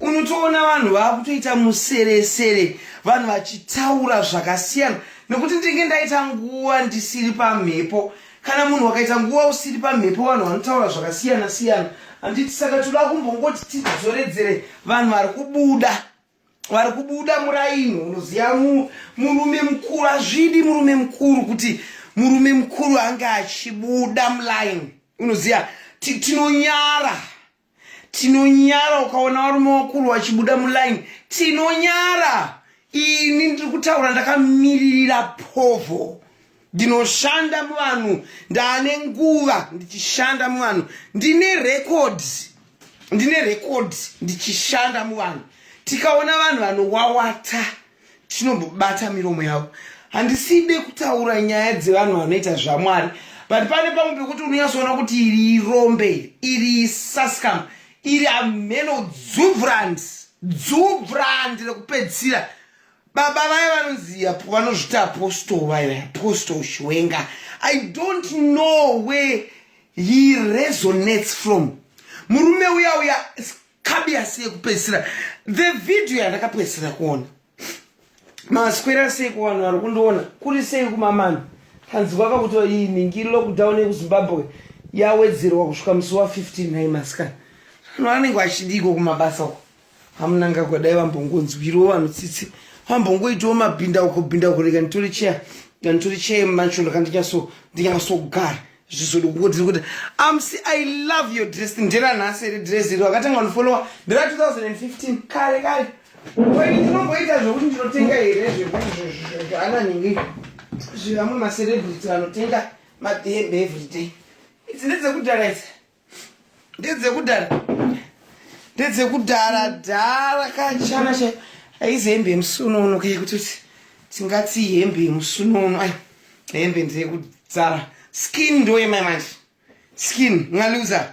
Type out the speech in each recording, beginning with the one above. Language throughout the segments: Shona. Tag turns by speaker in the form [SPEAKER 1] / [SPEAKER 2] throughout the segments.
[SPEAKER 1] Unotoona vanhu vakutoita museresere vanhu vachitaura zvakasiyana nekuti ndinge ndaita nguva ndisiri pamhepo. Kana munhu wakaita nguva usiri pamhepo vanhu vanotaura zvakasiyana siyana handiti saka toda kumbongoti tidzoredzere vanhu vari kubuda vari kubuda muraini unoziva murume mukuru azvidi murume mukuru kuti murume mukuru ange achibuda mulaini unoziva tinonyara tinonyara ukaona varume vakuru vachibuda muline tinonyara ini ndiri kutaura ndakamiririra povo ndinoshanda muvanhu ndaane nguva ndichishanda muvanhu ndine records ndine records ndichishanda muvanhu tikaona vanhu vanowawata wa tinombobata miromo yavo handiside kutaura nyaya dzevanhu vanoita zvamwari but pane pamwe pekuti unonyatsoona kuti iri irombe iri iri sascam iri hameno dzuvrand dzuvrand rekupedzisira baba vaye vanonzi apo vanozviti apostol vaye apostol shwenga i don't know where he resonates from murume uya uya kabi asi yekupedzisira the video yandakapedzisira kuona maswera sei kuvanhu vari kundiona kuri sei kumamana tanzwa kakuti iyi nhingi lockdown yekuzimbabwe yawedzerwa kusvika musi wa 15 nhai masikana vanhu vanenge vachidiiko kumabasa uko hamunangagwa dai vambongonzwiriwo vanhu tsitsi vambongoitiwo mabhindauko bhindauko rega nditori cheya nditori cheya macho ndakandinyaso ndinyasogara zvizoda kukudzira kuti amsi i love your dress ndera nhasi iri dress iri wakatanga kundifolowa ndera 2015 kare kare wai ndinomboita zvekuti ndinotenga here zveananhingi zvevamwe macelebrity vanotenga madhembe everyday idzi ndedzekudhara idzi ndedzekudhara ndedzekudhara dhara kachana cha aizi hembe yemusunono ke kutoti tingati hembe yemusunono ai hembe ndeyekudzara skin ndoyemai manje skin ngaluza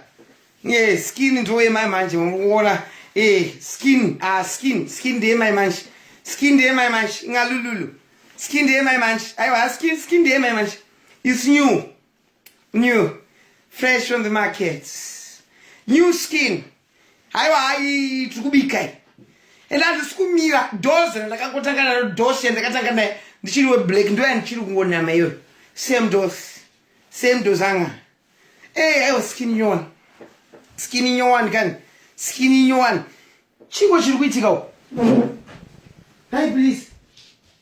[SPEAKER 1] ye skin ndoyemai manje mukuona e eh, skin a ah, skin skin ndeyemai manje skin ndeyemai manje ngalululu skin ndeyemai manje aiwa skin skin ndeyemai manje is new new fresh from the market new skin haiwa hai tiri kubika i and handisi kumira doze randakangotanga naro dose yandakatanga naye ndichiri weblack ndo yandichiri kungonama iyoyo same dose same dose anga ey eh, aiwa skin nyowani skin nyowani kani skin nyowani chingo chiri kuitika u hai please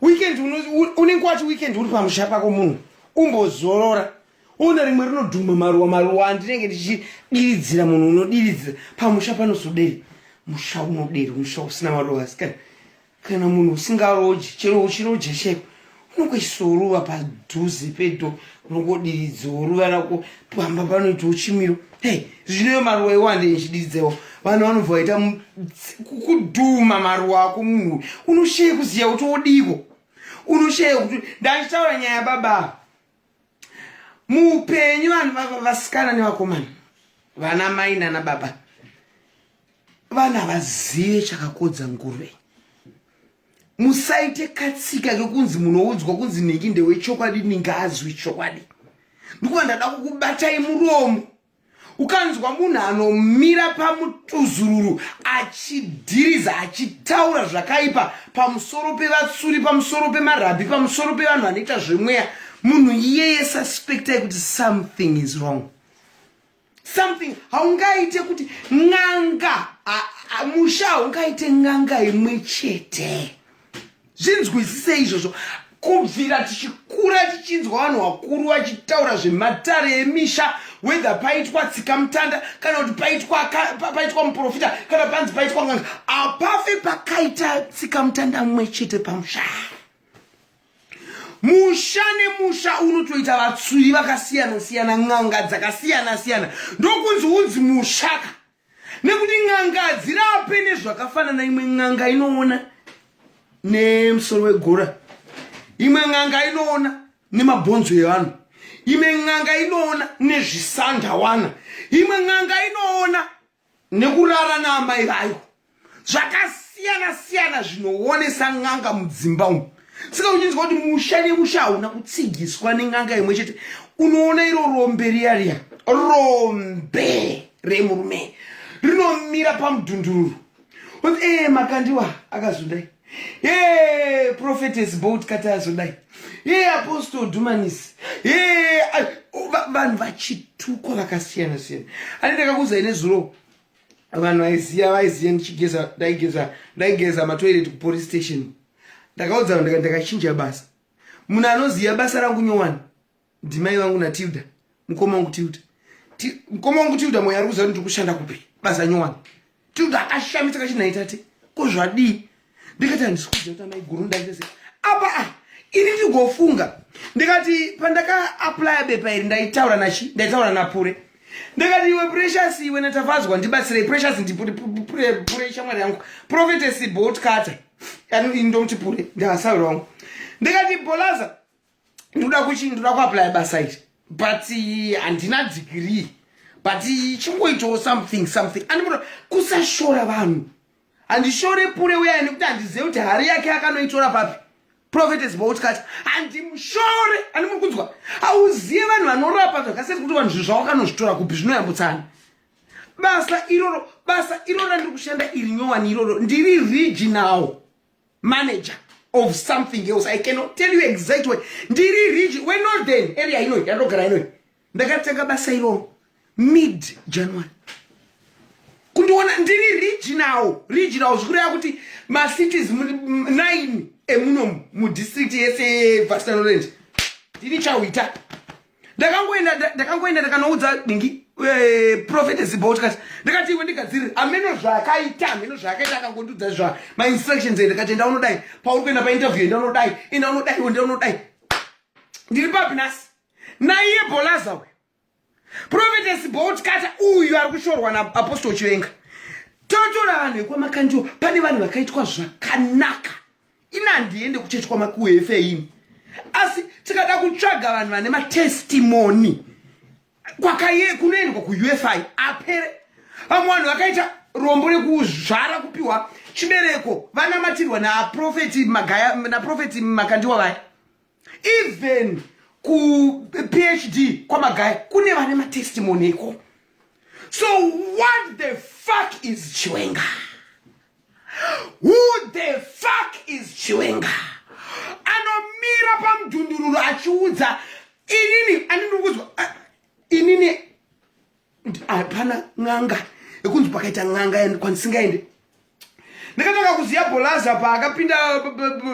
[SPEAKER 1] weekend unenge wacho weekend uri pamusha pako munhu umbozorora uona rimwe rinodhuma maruwa maruwa andinenge ndichidiridzira munhu unodiridzira pamusha panozodei musha unoderi musha usina maruwa asikana kana munhu usingaroji chero uchiroja cheko unenge uchisoruva padhuze pedo unongodiridzwa ruva rako pamba panoitwa uchimiro hey zvinoyo maruwa iwo andinchididzewo vanhu vanobva vaita kudhuma maruwa ako munhu unoshaya kuziva kuti wodiwo unoshaya kuti ndachitaura nyaya baba muupenyu vanhu vasikana nevakomana vana mai nana baba vana vazive chakakodza nguruve musaite katsika kekunzi munoudzwa kunzi nhingi ndewechokwadi ninge azwi chokwadi ndikuva ndada kukubatai muromo ukanzwa munhu anomira pamutuzururu achidhiriza achitaura zvakaipa pamusoro pevatsuri pamusoro pemarabhi pamusoro pevanhu vanoita zvemweya munhu iyeye suspectai kuti something is wrong something haungaite kuti n'anga musha haungaite n'anga imwe chete zvinzwisise izvozvo kubvira tichikura tichinzwa vanhu vakuru vachitaura zvematare emisha whether paitwa tsika mutanda kana kuti paitwa paitwa muprofita kana panzi paitwa n'anga apafe pakaita tsika mutanda mumwe chete pamushaa musha nemusha unotoita vatsuri vakasiyana siyana n'anga dzakasiyana siyana ndokunzi unzi mushaka nekuti n'anga hadzirape nezvakafanana imwe n'anga inoona nemusoro wegora imwe n'anga inoona nemabhonzo evanhu imwe n'anga inoona nezvisandawana imwe n'anga inoona nekurara naamai vayo zvakasiyana siyana zvinoonesa n'anga mudzimba umu saka uchinzwa kuti musha nemusha hauna kutsigiswa nen'anga imwe chete unoona iro rombe riya riya rombe remurume rinomira pamudhundururu onzi ee eh, makandiwa akazundai Hey, prophetess boat katazo dai. Hey, apostle Dumanis. Hey, vanhu vachitukwa vakasiyana siyana. Ani ndakakuza ine zuro. Vanhu vaiziya vaiziya ndichigeza ndaigeza ndaigeza matoilet ku police station. Ndakaudza vanhu ndakachinja basa. Munhu anoziya basa rangu nyowani. ndimai vangu natilda mukoma wangu tilda mukoma wangu tilda mweya ari kuziva kuti ndikushanda kupi basa nyowani tilda akashamisa kachinaitati ko zvadii ndikati handisikuziva kuti amai guru ndandese apa a ah, ini ndigofunga ndikati pandaka aplya bepa iri ndaitaura nachi ndaitaura napure ndikati iwe precious iwe natavadzwa ndibatsirei precious ndipure shamwari yangu profetesi bot cutter yani ndomuti pure ndihasawi wangu ndikati bolaza ndoda kuchi ndoda kuaplya basa iri but eh, handina dhigirii but eh, chingoitawo something something andimuda kusashora vanhu handishore pure uya nekuti handizive kuti hari yake akanoitora papi profetes boutkati handimushore andimuri kunzwa hauzive vanhu vanorapa zvakasiyasi kuti vanhu zvinhu zvawakanozvitora kupi zvinoyambutsana basa iroro basa iroro randiri kushanda iri nyowani iroro ndiri regional manager of something else i cannot tell you exact way ndiri rich we know then area ino yandogara ino ndakatanga basa iro mid january kundiona ndiri regional regional zvikureva kuti macities nine emuno mudistrict yese yevastanoland ndini chawita ndakangoenda ndakangoenda ndakanoudza dingi eh, profete zibho tikati ndakati iwe ndigadzirire ameno zvaakaita ameno zvaakaita akangondiudza zva mainstructions e ndikati enda unodai pauri kuenda painterview enda unodai enda unodai enda unodai ndiri papi nhasi naiye bolaza uyu profete zibho tikati uyu ari kushorwa naapostol chivenga totora vanhu vekwamakandiwo pane vanhu vakaitwa zvakanaka ini handiende kuchechi kwamakuefe ini asi tikada kutsvaga vanhu vane matestimoni kwakaye kunoendwa kuufi apere vamwe vanhu vakaita rombo rekuzvara kupiwa chibereko vanamatirwa naprofeti magaya naprofeti makandiwa vaya even kuphd kwamagaya kune vane matestimony iko so what the fuck is chiwenga who the fuck is chiwenga anomira pamudhundururu achiudza inini andinikudzwa inini hapana n'anga ekunzi pakaita n'anga kwandisingaende ndakatanga kuziva bolaza paakapinda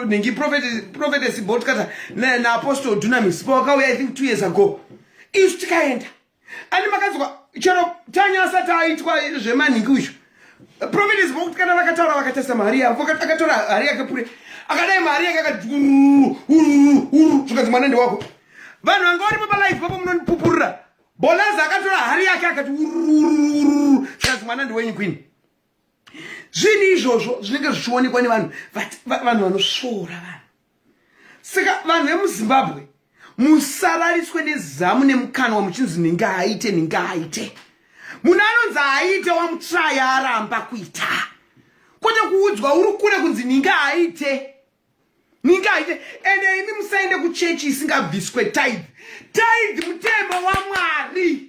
[SPEAKER 1] nhingi prophetess botkata naapostle dunamis pawakauya i think two years ago isu tikaenda ani makanzwa chero tanya asati aitwa zvemanhingi uyu prophetess botkata vakataura vakatarisa mari yavo akatora hari yake pure akadai mari yake akati ururu ururu ururu zvikanzi mwana ndewako vanhu vanga varipo palife papo munonipupurira Bonaza akatora hari yake akati ururururu chikazi mwana ndiwenyu kwini. Zvinhu izvozvo zvinenge zvichionekwa nevanhu vanhu vanosvora vanhu. Saka vanhu vemuZimbabwe musarariswe nezamu nemukanwa muchinzi ninge aite ninge aite. Munhu anonzi aite wamutraya aramba kuita. Kwete kuudzwa uri kure kunzi ninge aite. Ningaite ende imi musaende kuchechi isingabviswe tithe. Tithe mutemo waMwari.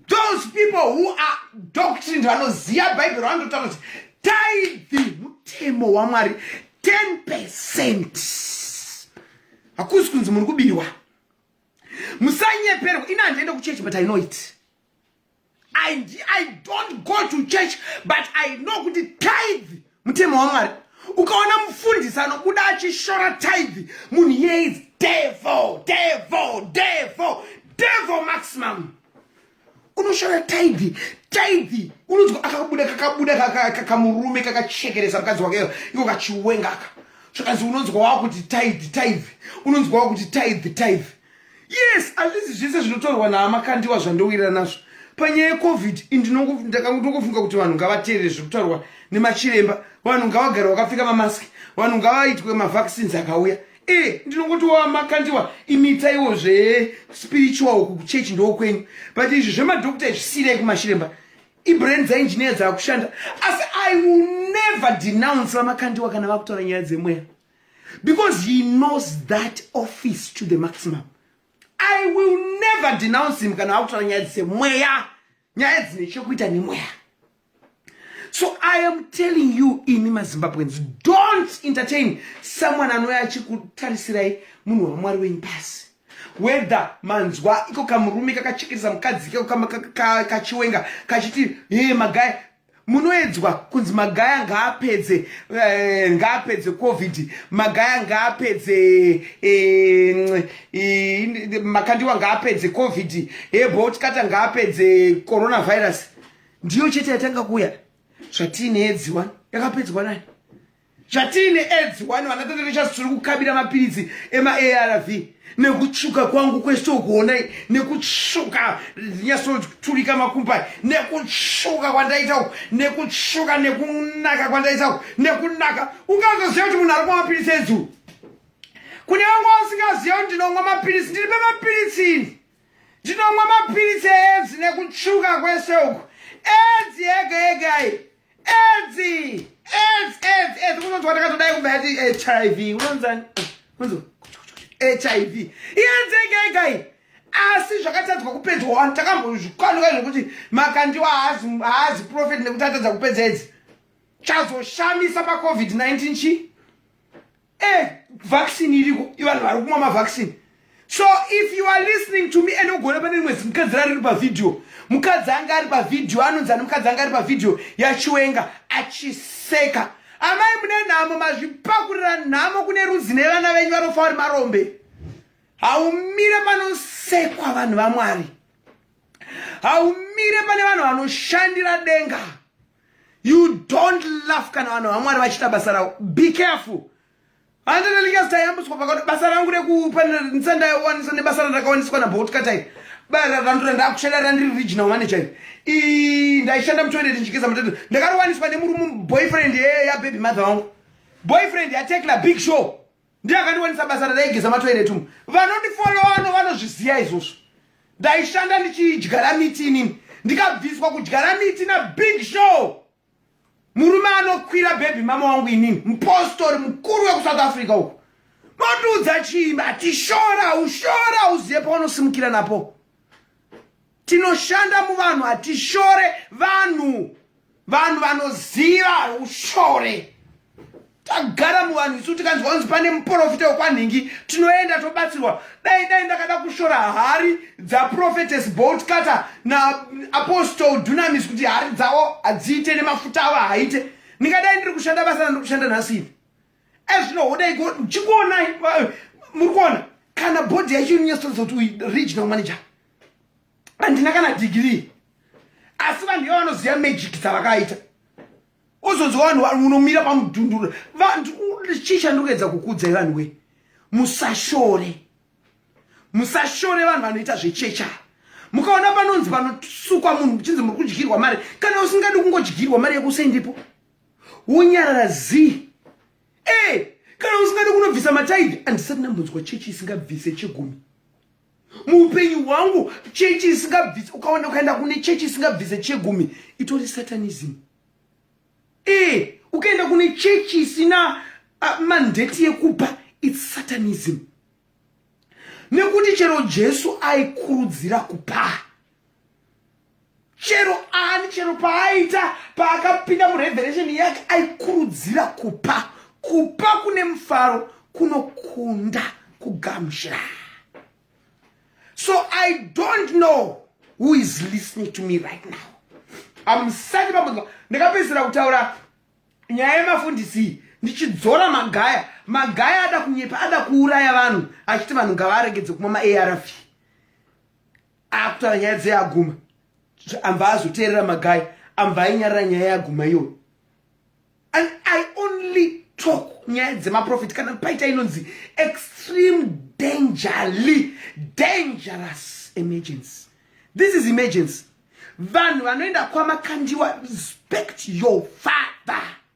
[SPEAKER 1] Those people who are doctrine vanoziva Bible vanotaura kuti tithe mutemo waMwari 10%. Hakusi kunzi muri kubirwa. Musanyeperwa. Ina handiende kuchechi but I know it. I, I don't go to church but I know kuti tithe mutemo waMwari ukaona mufundisi anobuda achishora tithe munhu iye is devil devil devil devil maximum unoshora tithe tithe unonzwa akabuda kakabuda kakamurume kakachekeresa mukadzi wakeyo iko kachiwengaka zvakanzi unonzwa wakuti tithe tithe unonzwa wakuti tithe tithe yes at least zvese zvinotorwa naama kandiwa zvandowira nazvo panyaya yecovid ndinofunga kuti vanhu ngavateerere zviri kutaurwa nemachiremba vanhu ngavagare vakapfeka mamask vanhu ngavaitwe mavaccines akauya e eh, ndinongoti wamakandiwa imitaiwo zvespiritual uku kuchechi ndoo kwenyu but izvi zvemadokta izvisiirei kumachiremba ibrand dzainjiniya dzaakushanda asi i will never denounce vamakandiwa kana vakutaura nyaya dzemweya because he knows that office to the maximum i will never denounce him kana akutaura nyaya dzise mweya nyaya dzine chokuita nemweya so i am telling you imi mazimbabweans don't entertain someone anouya achikutarisirai munhu wamwari wenyu pasi whether manzwa iko kamurume kakachekeresa mukadzi kachiwenga kachiti e magaya munoedzwa kunzi magaya ngaapedze eh, ngaapedze covid magaya ngaapedze eh, eh, makandiwa ngaapedze covid hebotikata eh, ngaapedze coronavirus ndiyo chete yatanga kuuya zvatine edziwa yakapedzwa nani Zvatiine aids wani vana tata vechasi tiri kukabira mapiritsi emaARV nekutsvuka kwangu kwese ukuonai nekutsvuka ndinyasoturika makumbai nekutsvuka kwandaita uku nekutsvuka nekunaka kwandaita uku nekunaka ungazoziva kuti munhu ari kumwa mapiritsi edzuu kune vanga vasingaziva kuti ndinomwa mapiritsi ndiri pemapiritsi ndinomwa mapiritsi eedzi nekutsvuka kwese uku edzi yega yega iyi edzi edzi edzi edzi kunonzwa takatodai kumba yati hiv unonzani kunzi hiv iyenzegegai asi zvakatadzwa kupedzwa wani takambozvikwanuka zvekuti makandiwa haazi profet nekuti atadza kupedza edzi chazoshamisa pacovid-19 chii eh vaccine iriko ivanhu vari kumwa mavaccine so if you are listening to me and ugona pane rimwe zimukadzi rari ri pavhidhiyo mukadzi anga ari pavhidhiyo anonzi ani mukadzi anga ari pavhidhiyo yachiwenga achiseka amai mune nhamo mazvipakurira nhamo kune rudzi nevana venyu vanofa vari marombe haumire panosekwa vanhu vamwari haumire pane vanhu vanoshandira denga you don't laugh kana vanhu vamwari vachita basa ravo be careful handinelingesi tayambutswa pakati basa rangu rekupanisa ndayowanisa nebasa randakawaniswa nabotkatai bara randura ndakushanda randiri regional manager i ndaishanda mutoilet ndichigeza matete ndakariwaniswa nemurume boyfriend yababy mother wangu boyfriend yatekla big show ndiye akandiwanisa basa radaigeza matoilet umu vanondifollowa no vanozviziva izvozvo ndaishanda ndichidyara miti inini ndikabviswa kudyara miti nabig show murume anokwira bhebhi mama wangu inini mupostori mukuru wekusouth africa uku motiudza chii ati shora ushora uzive paunosimukira napo Tinoshanda muvanhu hatishore vanhu. Vanhu vanoziva ushore. Tagara muvanhu isu tikanzwa kunzi pane muprofita wekwanhingi tinoenda tobatsirwa. Dai dai ndakada kushora hari dzaprofetes bolt cutter naapostle dunamis kuti hari dzavo hadziite nemafuta avo haaite. Ndingadai ndiri kushanda basa randiri kushanda nhasi ivi. Ezvino hodai chikuonai muri kuona kana bhodhi yacho inonyatsotaridza kuti uyu regional manager handina kana dhigiri asi vanhu iva vanoziva magic dzavakaita uzonzwa vanhu unomira pamudhunduro vanhu chii chandikuedza kukudza ivanhu wee musashore musashore vanhu vanoita zvechecha mukaona panonzi panosukwa munhu muchinzi muri kudyirwa mari kana usingadi kungodyirwa mari yekusendipo wonyarara zii e eh, kana usingadi kunobvisa mataidi andisati ndambonzwa chechi isingabvise chegumi muupenyu hwangu chechi isingabvise ukaona ukaenda kune chechi isingabvise chegumi itori satanism e ukaenda kune chechi isina uh, mandeti yekupa its satanism nekuti chero jesu aikurudzira kupaa chero ani chero paaita paakapinda mureveration yake aikurudzira kupa kupa kune mufaro kunokunda kugamushira so i don't know who is listening to me right now amusati pamudza ndakapedzisira kutaura nyaya yemafundisi ndichidzora magaya magaya ada kunyepa ada kuuraya vanhu achiti vanhu ngavaregedze kumwa maarv akutaura nyaya dzeaguma ambva azoteerera magai ambva ainyarira nyaya yaguma iyoyo and i only talk nyaya dzemaprofit kana paita inonzi extreme dangerly dangerous emergency this is emergency vanhu vanoenda kwamakandiwa respect your father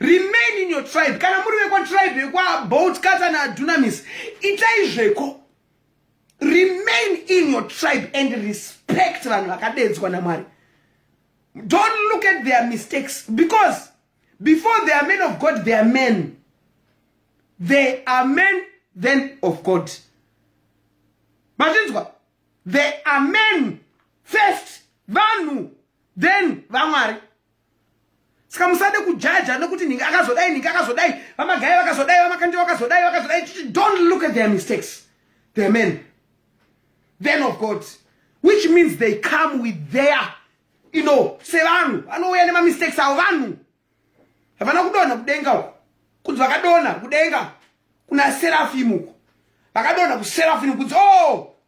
[SPEAKER 1] remain in your tribe kana muri vekwatribe yekwabout kata naadunamis itai zveko remain in your tribe and respect vanhu vakadedzwa namwari don't look at their mistakes because before they are men of god they are men they are men then of god machinzwa they are men first vanhu then vamwari saka musade kujaja nekuti ninge akazodai ninge akazodai vamagaya vakazodai vamakandi vakazodai vakazodai don't look at their mistakes their men then of god which means they come with their you know sevanhu vanouya nemamistakes avo vanhu havana kudonha kudenga uko kunzi vakadonha kudenga kuna serafimu uko vakadonha kuserafimu kunzi o oh,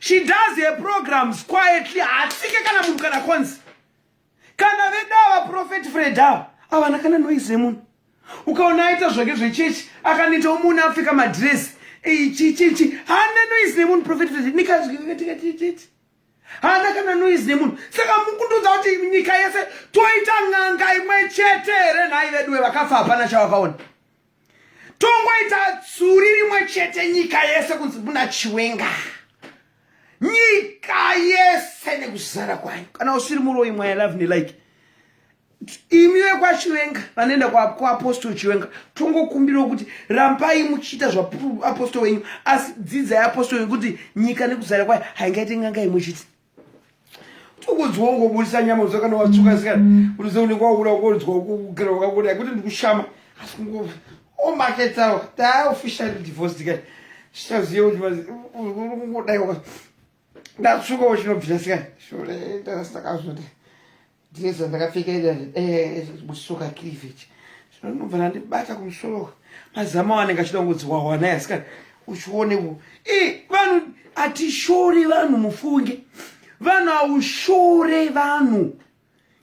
[SPEAKER 1] she does her programs quietly hatsike kana munhu kana konzi kana vedava profet fred ava avana kana noise yemunhu ukaona aita zvake zvechechi akaneta umuni apfeka madresi ichichichi haana noise nemunhu profet fred nikazvikatikatit haana kana noise nemunhu saka mukundudza kuti nyika yese toita n'anga imwe chete here nhai veduwe vakafa hapana chavakaona tongoita tsuri rimwe chete nyika yese kunzi muna chiwenga nyika yese nekuzara kwanyu kana usiri muroyi mwaya love nelike imi vekwachiwenga vanoenda kuapostol chiwenga tongokumbirawo kuti rambai muchiita zvaapostol wenyu asi dzidzai apostol wenyu kuti nyika nekuzara kwayo haingaite nganga imwe chete ukunzwa ungobudisa nyama uza kana watsuka mm. sikana kuti ze unenge wakuda ukonzwa ukugera wakakuda kuti ndikushama asi kungo omaketawa taa official divorce dikati zvichaziye kuti ungodai ndatsuka wachinobvira sikana shore ndakazoti Dress randakapfeka iri eh, busoka cleavage zvino ndinobva ndandibata kumusoro mazama wanenge achida kungodziwahwa naye asikana uchione ku e vanhu hatishore vanhu mufunge vanhu haushore vanhu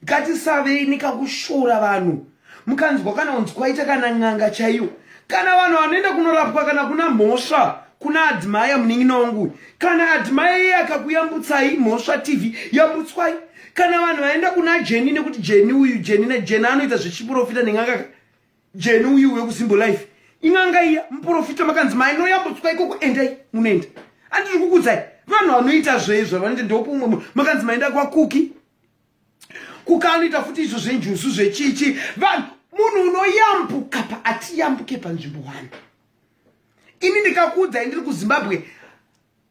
[SPEAKER 1] ngatisavei nekakushora vanhu mukanzwa kana unzi kwaita kana n'anga chaiyo kana vanhu vanoenda kunorapwa kana kuna mhosva kuna adhimaya munin'ina wangu kana adhimaya iye akakuyambutsai mhosva tv yambutswai kana vanhu vaenda kuna jeni nekuti jeni uyu jeni najeni anoita zvechiprofita neng'anga jeni uyu wekusimbo life ing'anga iya muprofita makanzi mainoyambutswa ikoko endai munoenda andiri kukudzai vanhu vanoita zveizvo vanoita ndopo umwe makanzi maenda kwakuki kukanoita futi izvo zvenjuzu zvechichi vanhu munhu unoyambuka paatiyambuke panzvimbo wani ini ndikakuudzai ndiri kuzimbabwe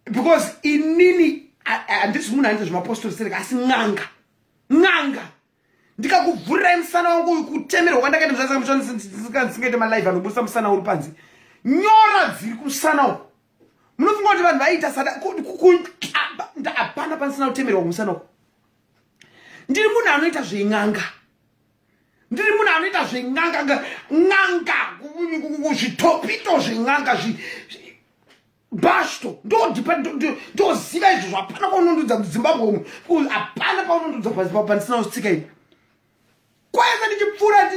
[SPEAKER 1] because inini handisi munhu anoita zvemapostori sereka asi n'anga n'anga ndikakuvhurirai musana wangu uyu kutemerwa kwandakaita muzvasika muchandisingaite malive anobusa musana uri panze nyora dziri kumusana uku munofunga kuti vanhu vaiita sada hapana panisina kutemerwa kumusana uku ndiri munhu anoita zven'anga ndiri munhu anoita zven'anga n'anga zvitopito zven'anga bashto ndoziva izvo zvapana kwaunondudza muzimbabwe umu hapana kwaunondudza pansina kustsika ini kwaenda ndichipfuura ati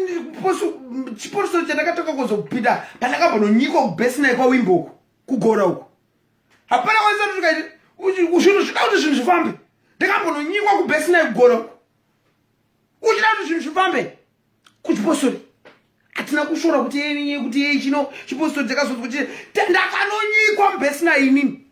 [SPEAKER 1] chiporuso chandakatoka kuzopinda pandakabva nonyika kubesinayi kwawimbo uku kugora uku hapana kwaisatotukaiti zvinhu zvida kuti zvinhu zvifambe ndakambononyikwa kubesinayi kugora uku uchida kuti zvinhu zvifambe kuchipostori hatina kushora kuti yeye kuti yeye chino chipostori chakazonzi kuti ndakanonyikwa mubesinayi inini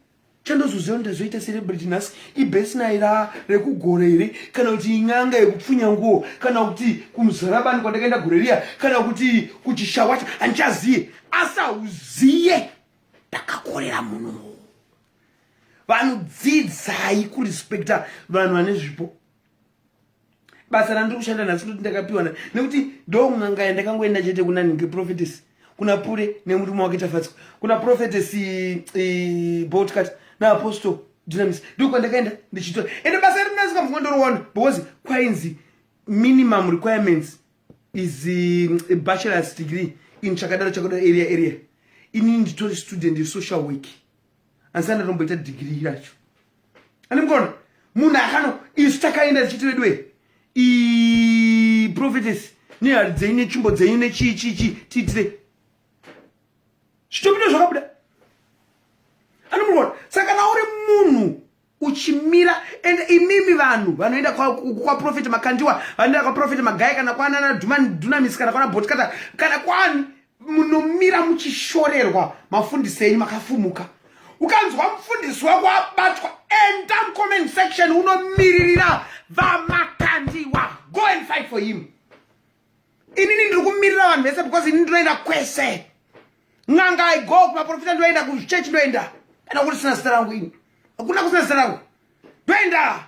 [SPEAKER 1] chandozoziva kuti ndazoita celebrity nhasi ibesnai ra rekugora here kana kuti inyanga yekupfunya nguo kana kuti kumuzarabani kwandakaenda gore riya kana kuti kuchishawacha handichaziye asi hauziye ndakakorera munhu vanhu dzidzai kurespekta vanhu vane zvipo basa randiri kushanda nhasi kuti ndakapiwana nekuti ndo n'anga yandakangoenda chete kuna nhingi prophetess kuna pure nemurume wake tafatswa kuna prophetess e, botcat naapostle dynamis ndo kwandakaenda ndichitora ende basa iri ndinasi kamvunga ndoriwana because kwainzi minimum requirements is a bachelors degree in chakadaro chakadaro area area ini nditori student yesocial work asi andatomboita dhigirii racho ani mukaona munhu akano isu takaenda tichiti veduwe prophetesi nehari dzenyu netsvimbo dzenyu nechii chii chii tiitire zvitobuda zvakabuda ani mukaona saka kana uri munhu uchimira and imimi vanhu vanoenda kwaprofeti kwa makandiwa vanoenda kwaprofeti magaya kana kwanana dunamis kana kwana botkata kana kwani munomira muchishorerwa mafundisi enyu makafumuka ukanzwa mufundisi wako abatwa enda mucomment section unomiririra vamakandiwa go and fight for him inini ndiri kumirira vanhu vese because ini ndinoenda kwese n'anga i go kumaprofita ndoenda kuchechi ndoenda kana kuri sina zita rangu ini hakuna kusina zita rangu ndoenda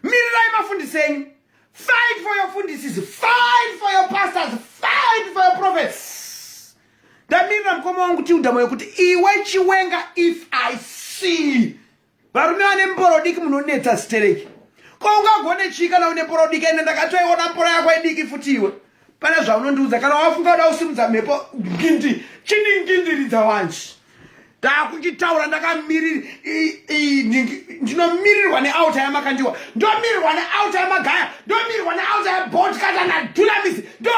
[SPEAKER 1] mirirai mafundisi enyu fight for your fundisis fight for your pastors fight for your prophets ndamirira mukoma wangu tiudhamo yokuti iwe chiwenga if i see Varume vane mboro diki munonetsa stereki. Ko ungagone chii kana une mboro diki ende ndakatoiona mboro yako idiki futi iwe. Pane zvaunondiudza kana wafunga kuda kusimudza mhepo ngindi chiningindiriza wanji. Ndakuchitaura ndakamiriri ndinomirirwa neauta yamakandiwa ndomirirwa neauta yamagaya ndomirirwa neauta yabot kata nadunamis ndo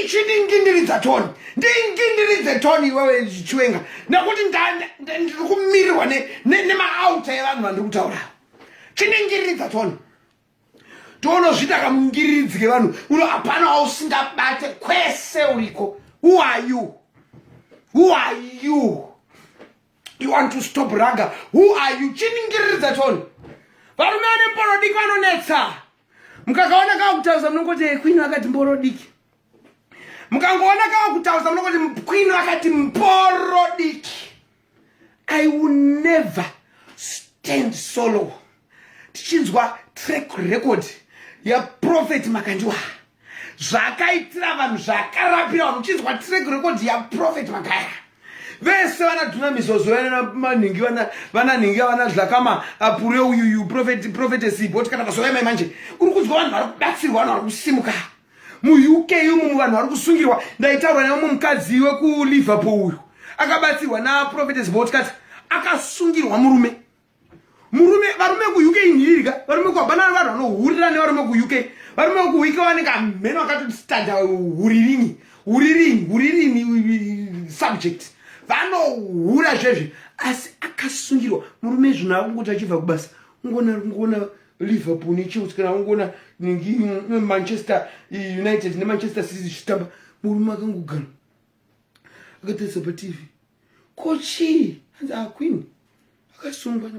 [SPEAKER 1] ichiningindiriza toni ndingindiridze toni iwewe chiwenga nekuti ndiri kumirirwa nemaauta evanhu vandiri kutaura chiningiriridza tona tonozvita kamungiriridzi kevanhu uno hapana wausingabate kwese uriko who are you who are you you want to stop raga who are you chiningiriridza tona varume vane mborodiki vanonetsa mukakaona kakutaridza munongoti eh, kwini vakati mborodiki mukangoona kava kutauza munokoti mkwini vakati mboro diki i will never stand solo tichinzwa track record yaprofeti makandiwa zvakaitira vanhu zvakarapira vanhu uchinzwa track record yaprofeti makaya vese vana duna mizozo vanamanhingi vananhingi vana zvakama apure uyuyu profetesi boti kana vazovaimai manje uri kunzwa vanhu vari kubatsirwa vanhu vari kusimuka muuk umu muvanhu vari kusungirwa ndaitaura nemumwe mukadzi wekuliverpool uyu akabatsirwa naprofetes botkat akasungirwa murume murume varume kuuk inhiririka varume kuhabana vanhu vanohurira nevarume kuuk varume kuuk vanenge amheno akatotstanda huririni huririni huririni subject vanohura zvezvi asi akasungirwa murume zvino akungoti achibva kubasa ngona ngona liverpool nechelsea kana ungoona manchester united nemanchester city zvichitamba murume akangogana akatarisa patv ko chii hanzi aqueen ah, akasungwa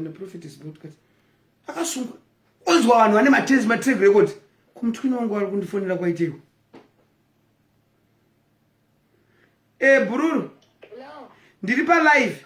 [SPEAKER 1] naprofetes broadcast akasungwa onzwa vanhu vane matezi matreg record kumutwini wangu ari kundifonera kwaiteiko e eh, bhururu ndiri palive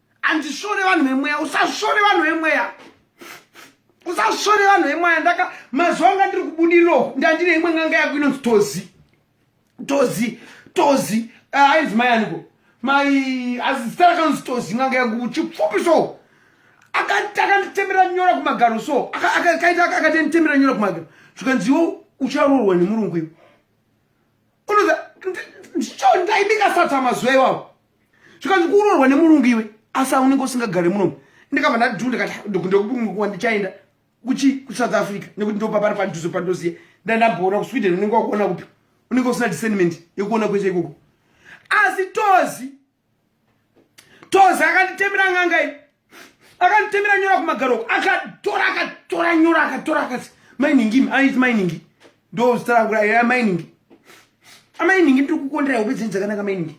[SPEAKER 1] andisvore vanhu vemweya usasvore vanhu vemweya usasvore vanhu vemweya ndaka mazuva anga ndiri kubudiriro ndandine imwe nganga yako inonzi tozi tozi tozi ah, ainzi mai aniko mai azita rakanonzi tozi nganga yangu chipfupi so akanditemera nyora kumagaro so akaita akatenditemera nyora kumagaro zvikanziwo ucharoorwa nemurungu ivo unoza ndicho ndaibika sata mazuva iwawo zvikanzi kuroorwa nemurungu iwe asi aunenge usingagare munomu ndikabva ndadhu ndikati ndokundokupumikuwa ndichaenda kuchi kusouth africa nekuti ndopapari padhuze pandoziye ndandamboona kusweden unenge wakuona kupi unenge usina discernment yekuona kwese ikoko asi tozi tozi akanditemera nganga i akanditemera nyora kumagaro uko akatora akatora nyora akatora akati mainingimi aiti mainingi ndozita rangu raiya mainingi amainingi ndiri kukondera hope dzenyu dzakanaka mainingi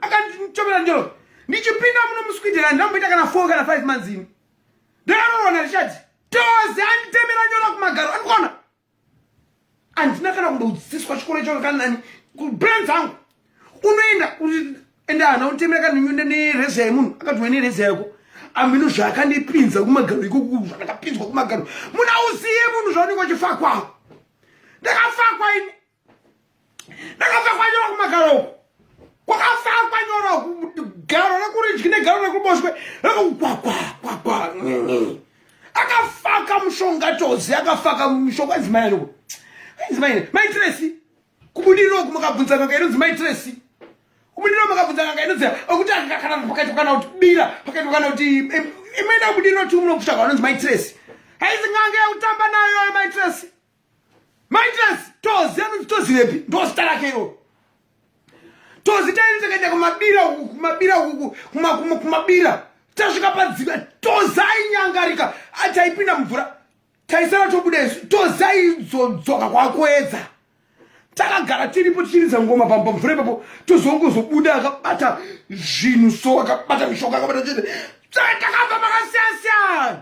[SPEAKER 1] akandichomera njoro ndichipinda muno musweden handina kumboita kana four kana five months ini ndakanoona richati tozi anditemera nyora kumagaro andikona handina kana kumbodzidziswa chikoro ichoko kana nani kuplan dzangu unoenda ende hana utemera kana nyunda nereza yemunhu akatiwa nereza yako amino zvaakandipinza kumagaro ikoku zvandakapinzwa kumagaro munhu auziye munhu zvaunenge uchifakwa ndakafakwa ini ndakabva kwanyora kumagaro uku kwakafakwa nyora garo rekuridyi negaro rekuboshwe rekukwakwakwa akafaka mushonga tozi akafaka mushonga edzimai anoko edzimai maitiresi kubudiriro ku makabvunza kaka inonzi maitiresi kubudiriro makabvunza kaka inonzi okuti akakana pakaitwa kana kuti bira pakaitwa kana kuti imaenda kubudiriro tiunokushaka anonzi maitiresi haizi ngange yekutamba nayo maitiresi Maitas tozi anoti tozi repi ndozita rake iroro tozi taini takaenda kumabira uku kumabira uku kumabira tasvika padzika tozi ainyangarika ataipinda mvura taisara tobuda isu tozi aizodzoka kwakuedza takagara tiripo tichiridza ngoma pamba mvura ipapo tozongozobuda akabata zvinhu so akabata mishoka akabata chete takabva makasiyana siyana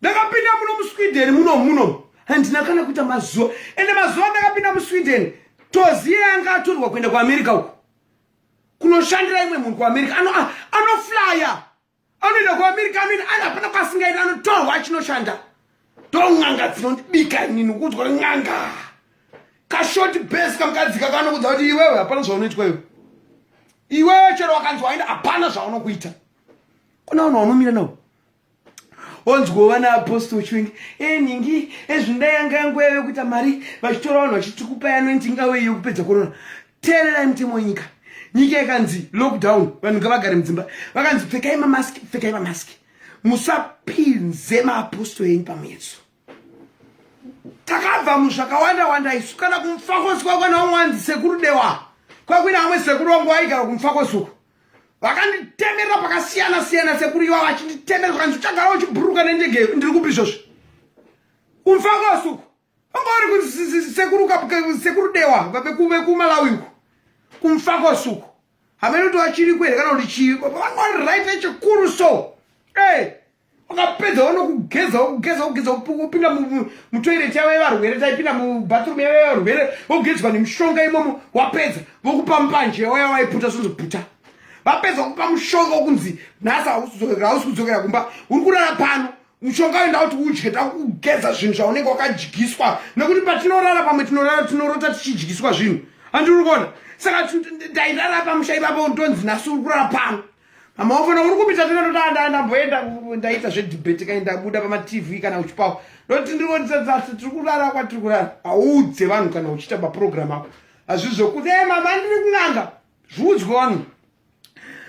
[SPEAKER 1] ndakapinda muno musweden muno muno handina kana kuita mazuva ende mazuva ndakapinda musweden toziye yanga atorwa kuenda kuamerica uku kunoshandira imwe munhu kuamerica anoflya ano anoenda kuamerica anoenda ana hapana kwasingaiti anotorwa achinoshanda ndon'anga dzinondibika inini kuudzwa n'anga kashoti bes kamukadzika kanokudza kuti iwewe hapana zvaunoitwa iwe iwewe chero wakanzi waenda hapana zvaunokuita kuna vanhu vaunomira navo onzwa vana apostle uchinge e eh, nhingi ezvinda eh, yanga yangu yave kuita mari vachitora vanhu vachiti kupa yanointi ingave iyo kupedza korona teererai mutemo wenyika nyika yakanzi lockdown vanhu ngavagare mudzimba vakanzi pfekai mamaski pfekai mamaski musapinze maapostle enyu pamuyeso takabva muzvakawanda wanda isu kana kumfakosi kwakwana umwanzi sekuru dewa kwakuina amwe sekuru wangu waigara kumfakosi uku vakanditemera pakasiyana siyana sekuru iva vachinditemera zvakanzi uchagara uchibhuruka nendege ndiri kupi izvozvi kumfakasuku vangauri kusekuru dewa vekumalawi uku kumfakasuku hamene kuti vachiri kwere kana kuti chii vangauri right echikuru so e ukapedza wanokugeza wokugeza wogeza wopinda mutoireti yavo yevarwere taipinda mubathroom yavo yevarwere wogezwa nemushonga imomo wapedza vokupa mbanje waya waiputa zvozobhuta vapedza kupa mushonga wokunzi nhasi hausi kudzokera kumba uri kurara pano mushonga wenda kuti udye takugeza zvinhu zvaunenge wakadyiswa nekuti patinorara pamwe tinorara tinorota tichidyiswa zvinhu andiri kuona saka ndairara pamusha ipapo ndonzi nhasi uri kurara pano mama wafana uri kupita tena ndoda nda ndamboenda ndaita zve debate kai ndabuda pama tv kana uchipawa ndoti ndiri kuti sasa tiri kurara kwa tiri kurara audze vanhu kana uchita ba program ako azvizvo kuti hey mama ndiri kunanga zvudzwe wanu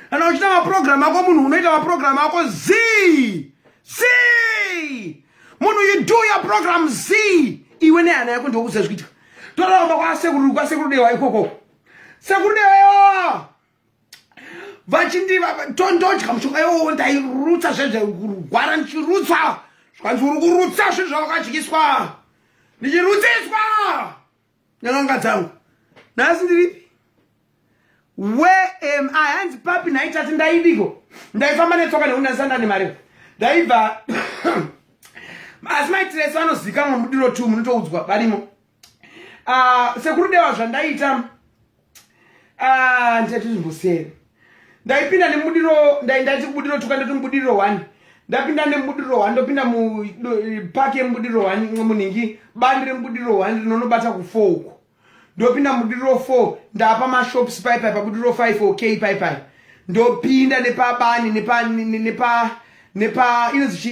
[SPEAKER 1] kana uchita ma program ako munhu unoita ma program ako zi zi munhu you do your program zi iwe ne hana yako ndokuzazvikuita toramba kwa sekuru kwa sekuru dewa ikoko sekuru dewa vachinditondodya mushonga iwowo ndairutsa zvezvekurwara ndichirutsa zvikanzi uri kurutsa zvinhu zvawakadyiswa ndichirutsiswa nyananga dzangu nhasi ndiripi where am i hanzi papi nhaitati ndaidiko ndaifamba netsoka nekuti ndaisanda nemari ndaibva asi maitirese vanozikamwa mudiro two munotoudzwa varimo Ah, sekuru dewa zvandaita ah, ndati zvimbosiyeni ndaipinda nemudiro ndaiti kubudiro tuka ndati mubudiro one ndapinda nemubudiro one ndopinda mupaki yemubudiro one munhingi bandi remubudiro one rinonobata kufour uko ndopinda mubudiro four ndapa mashops paipai pabudiro five ok paipai ndopinda nepabani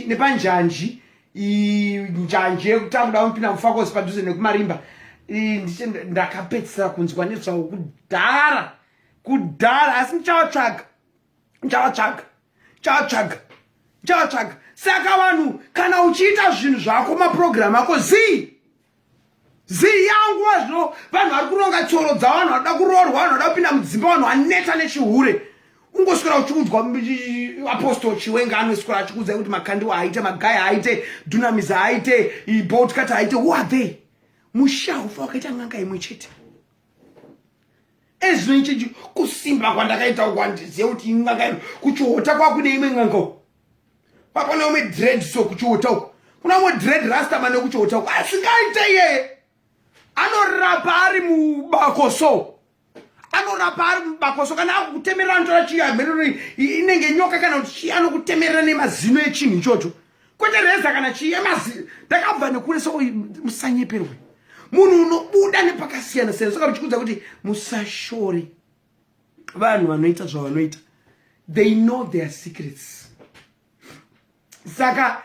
[SPEAKER 1] nepanjanji njanji yekutakuda kunopinda mufakosi padhuze nekumarimba ndiche ndakapedzisira kunzwa nezvawo kudhara kudhara asi ndichavatsvaga ndichavatsvaga ndichavatsvaga ndichavatsvaga saka vanhu kana uchiita zvinhu zvako mapurogiramu ako zii zii yangu wazvino vanhu vari kuronga tsoro dzavo vanhu vanoda kuroorwa vanhu vanoda kupinda mudzimba vanhu vaneta nechihure ungoswera uchiudzwa apostol chiwenga anoswera achikuudzai kuti makandiwa haaite magai haaite dunamis haaite boltcat haaite who are they musha ufa wakaita n'anga imwe chete ezvino ichechi kusimba kwandakaita uku handizive kuti in'anga kuchihota kwakude imwe n'anga pakona umwe dread so kuchiuta uko kuna umwe dread rasta mane kuchiuta uko asingaite iyeye anorapa ari mubako so anorapa ari mubako so kana akukutemerera anotora chii amherero inenge nyoka kana kuti chii anokutemerera nemazino echinhu ichocho kwete reza kana chii emazino ndakabva nekure so musanyeperwe munhu unobuda nepakasiyana siyana saka uchikudza kuti musashore vanhu vanoita zvavanoita they know their secrets saka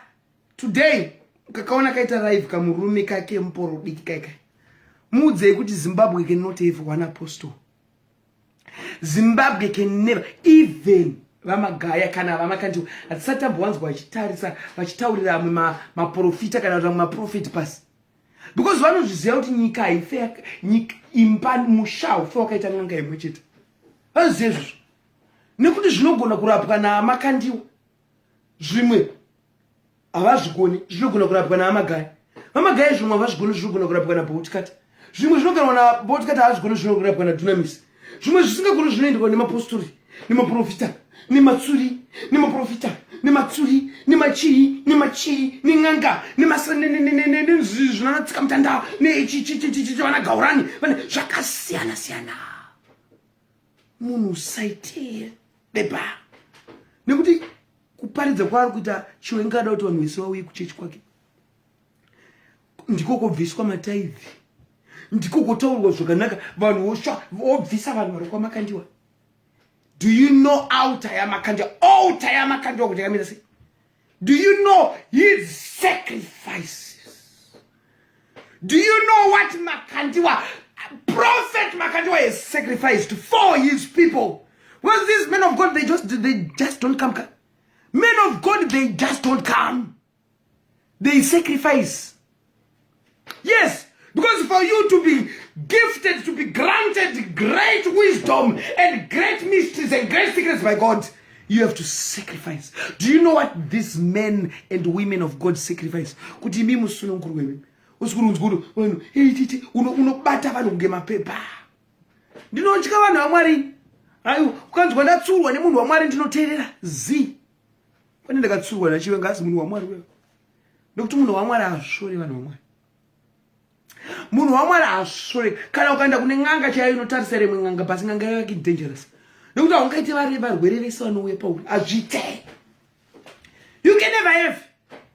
[SPEAKER 1] today kakaona kaita live kamurume kake muporo diki kaika muudzei kuti zimbabwe can not have one apostle zimbabwe can never even vamagaya kana vamakandiwa hatisati tambowanzwa vachitarisa vachitaurira amwe maprofita kana kuti amwe maprofeti pasi because vanozviziva kuti nyika haife nyika imba musha haufe wakaita n'anga imwe chete vanoziva izvozvo nekuti zvinogona kurapwa naamakandiwa zvimwe havazvigoni zvinogona kurapwa naamagaya vamagaya zvimwe havazvigoni zvinogona kurapwa naboutkata zvimwe zvinoganwa naboutkata havazvigoni zvinogona kurapwa nadunamisi zvimwe zvisingagoni zvinoendwa nemapostori nemaprofita nematsuri nemaprofita nematsuri nemachii nemachii nen'anga nemasnzvinanatsika mutanda nechichichichivana gaurani vane zvakasiyana siyana munhu usaitee beba nekuti kuparidza kwaari kuita chiwengada kuti vanhu vese vauye kuchechi kwake ndiko kobviswa mataivi ndiko kotaurwa zvakanaka vanhu vosva vobvisa vanhu vari kwamakandiwa do you know outa yamakandiwa outa yamakandiwa kuti yakamira sei do you know his sacrifices do you know what makandiwa prophet makandiwa has sacrificed for his people well these men of god they just, they just don't come, come men of god they just don't come they sacrifice yes because for you to be gifted to be granted great wisdom and great mysteries and great secrets by god you have to sacrifice do you know what these men and women of god sacrifice kuti imi musununguru wemi usikurunzguru wenu ititi unobata vanhu kunge mapepa ndinotya vanhu vamwari aiwa ukanzwa ndatsurwa nemunhu wamwari ndinoteerera zii pane ndakatsurwa nachiwenga asi munhu wamwari wewe nekuti munhu wamwari hazvishore vanhu vamwari munhu wamwari hazvishore kana ukaenda kune n'anga chaiyo inotarisa rimwe n'anga basi n'anga yayo yake dangerous nekuti haungaite vari varwere vese vanouya pauri hazviite you can never have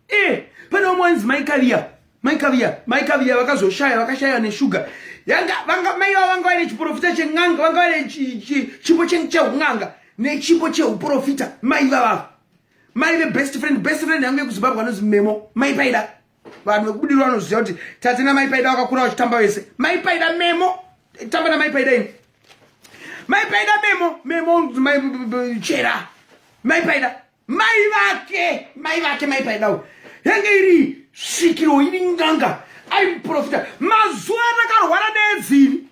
[SPEAKER 1] eh pane umwe ainzi mai kaviya mai kaviya mai kaviya vakazoshaya vakashaya neshuga yanga vanga mai vavo vanga vaine chiprofita chen'anga vanga vaine chipo cheun'anga nechipo cheuprofita mai vavavo mai vebest friend best friend yangu yekuzimbabwe anozi memo mai paida vanhu vekubudirwa vanoziva kuti tate namai paida vakakura vachitamba vese mai paida memo tamba namai paida ini mai paida memo memo mai chera mai paida mai vake mai vake mai paidawo yange iri svikiro iri nganga aimuprofita mazuva atakarwara needziri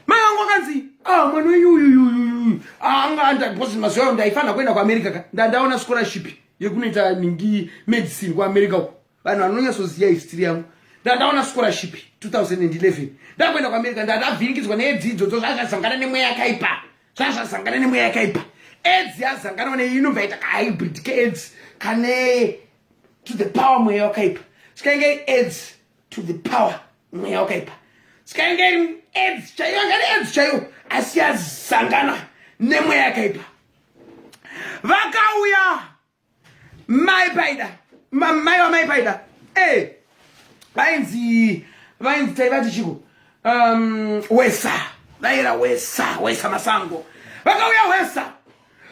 [SPEAKER 1] mai vangu akanzi ah, mwana wenyu uyuyuyuyu anga andagosi mazuva ayo ndaifanira kuenda kuamerica ka ndandaona scholarship yekunoita ningi medicine kuamerica uko vanhu vanonyatsoziva history yangu ndandaona scholarship 2011 ndakuenda kuamerica ndandavhirikidzwa needzidzo dzo zvazvazangana nemweya yakaipa zvazvazangana nemweya yakaipa edzi yazanganwa ne inobva yaita kahybrid keedzi kane to the power mweya wakaipa sikainge iri edzi to the power mweya wakaipa sikainge iri edzi chaiyo anga ri edzi chaiyo asi yazangana nemweya yakaipa vakauya mai paida mai wamai paida e vainzi vainzi taivati chiko um, wesa vaira wesa wesa masango vakauya wesa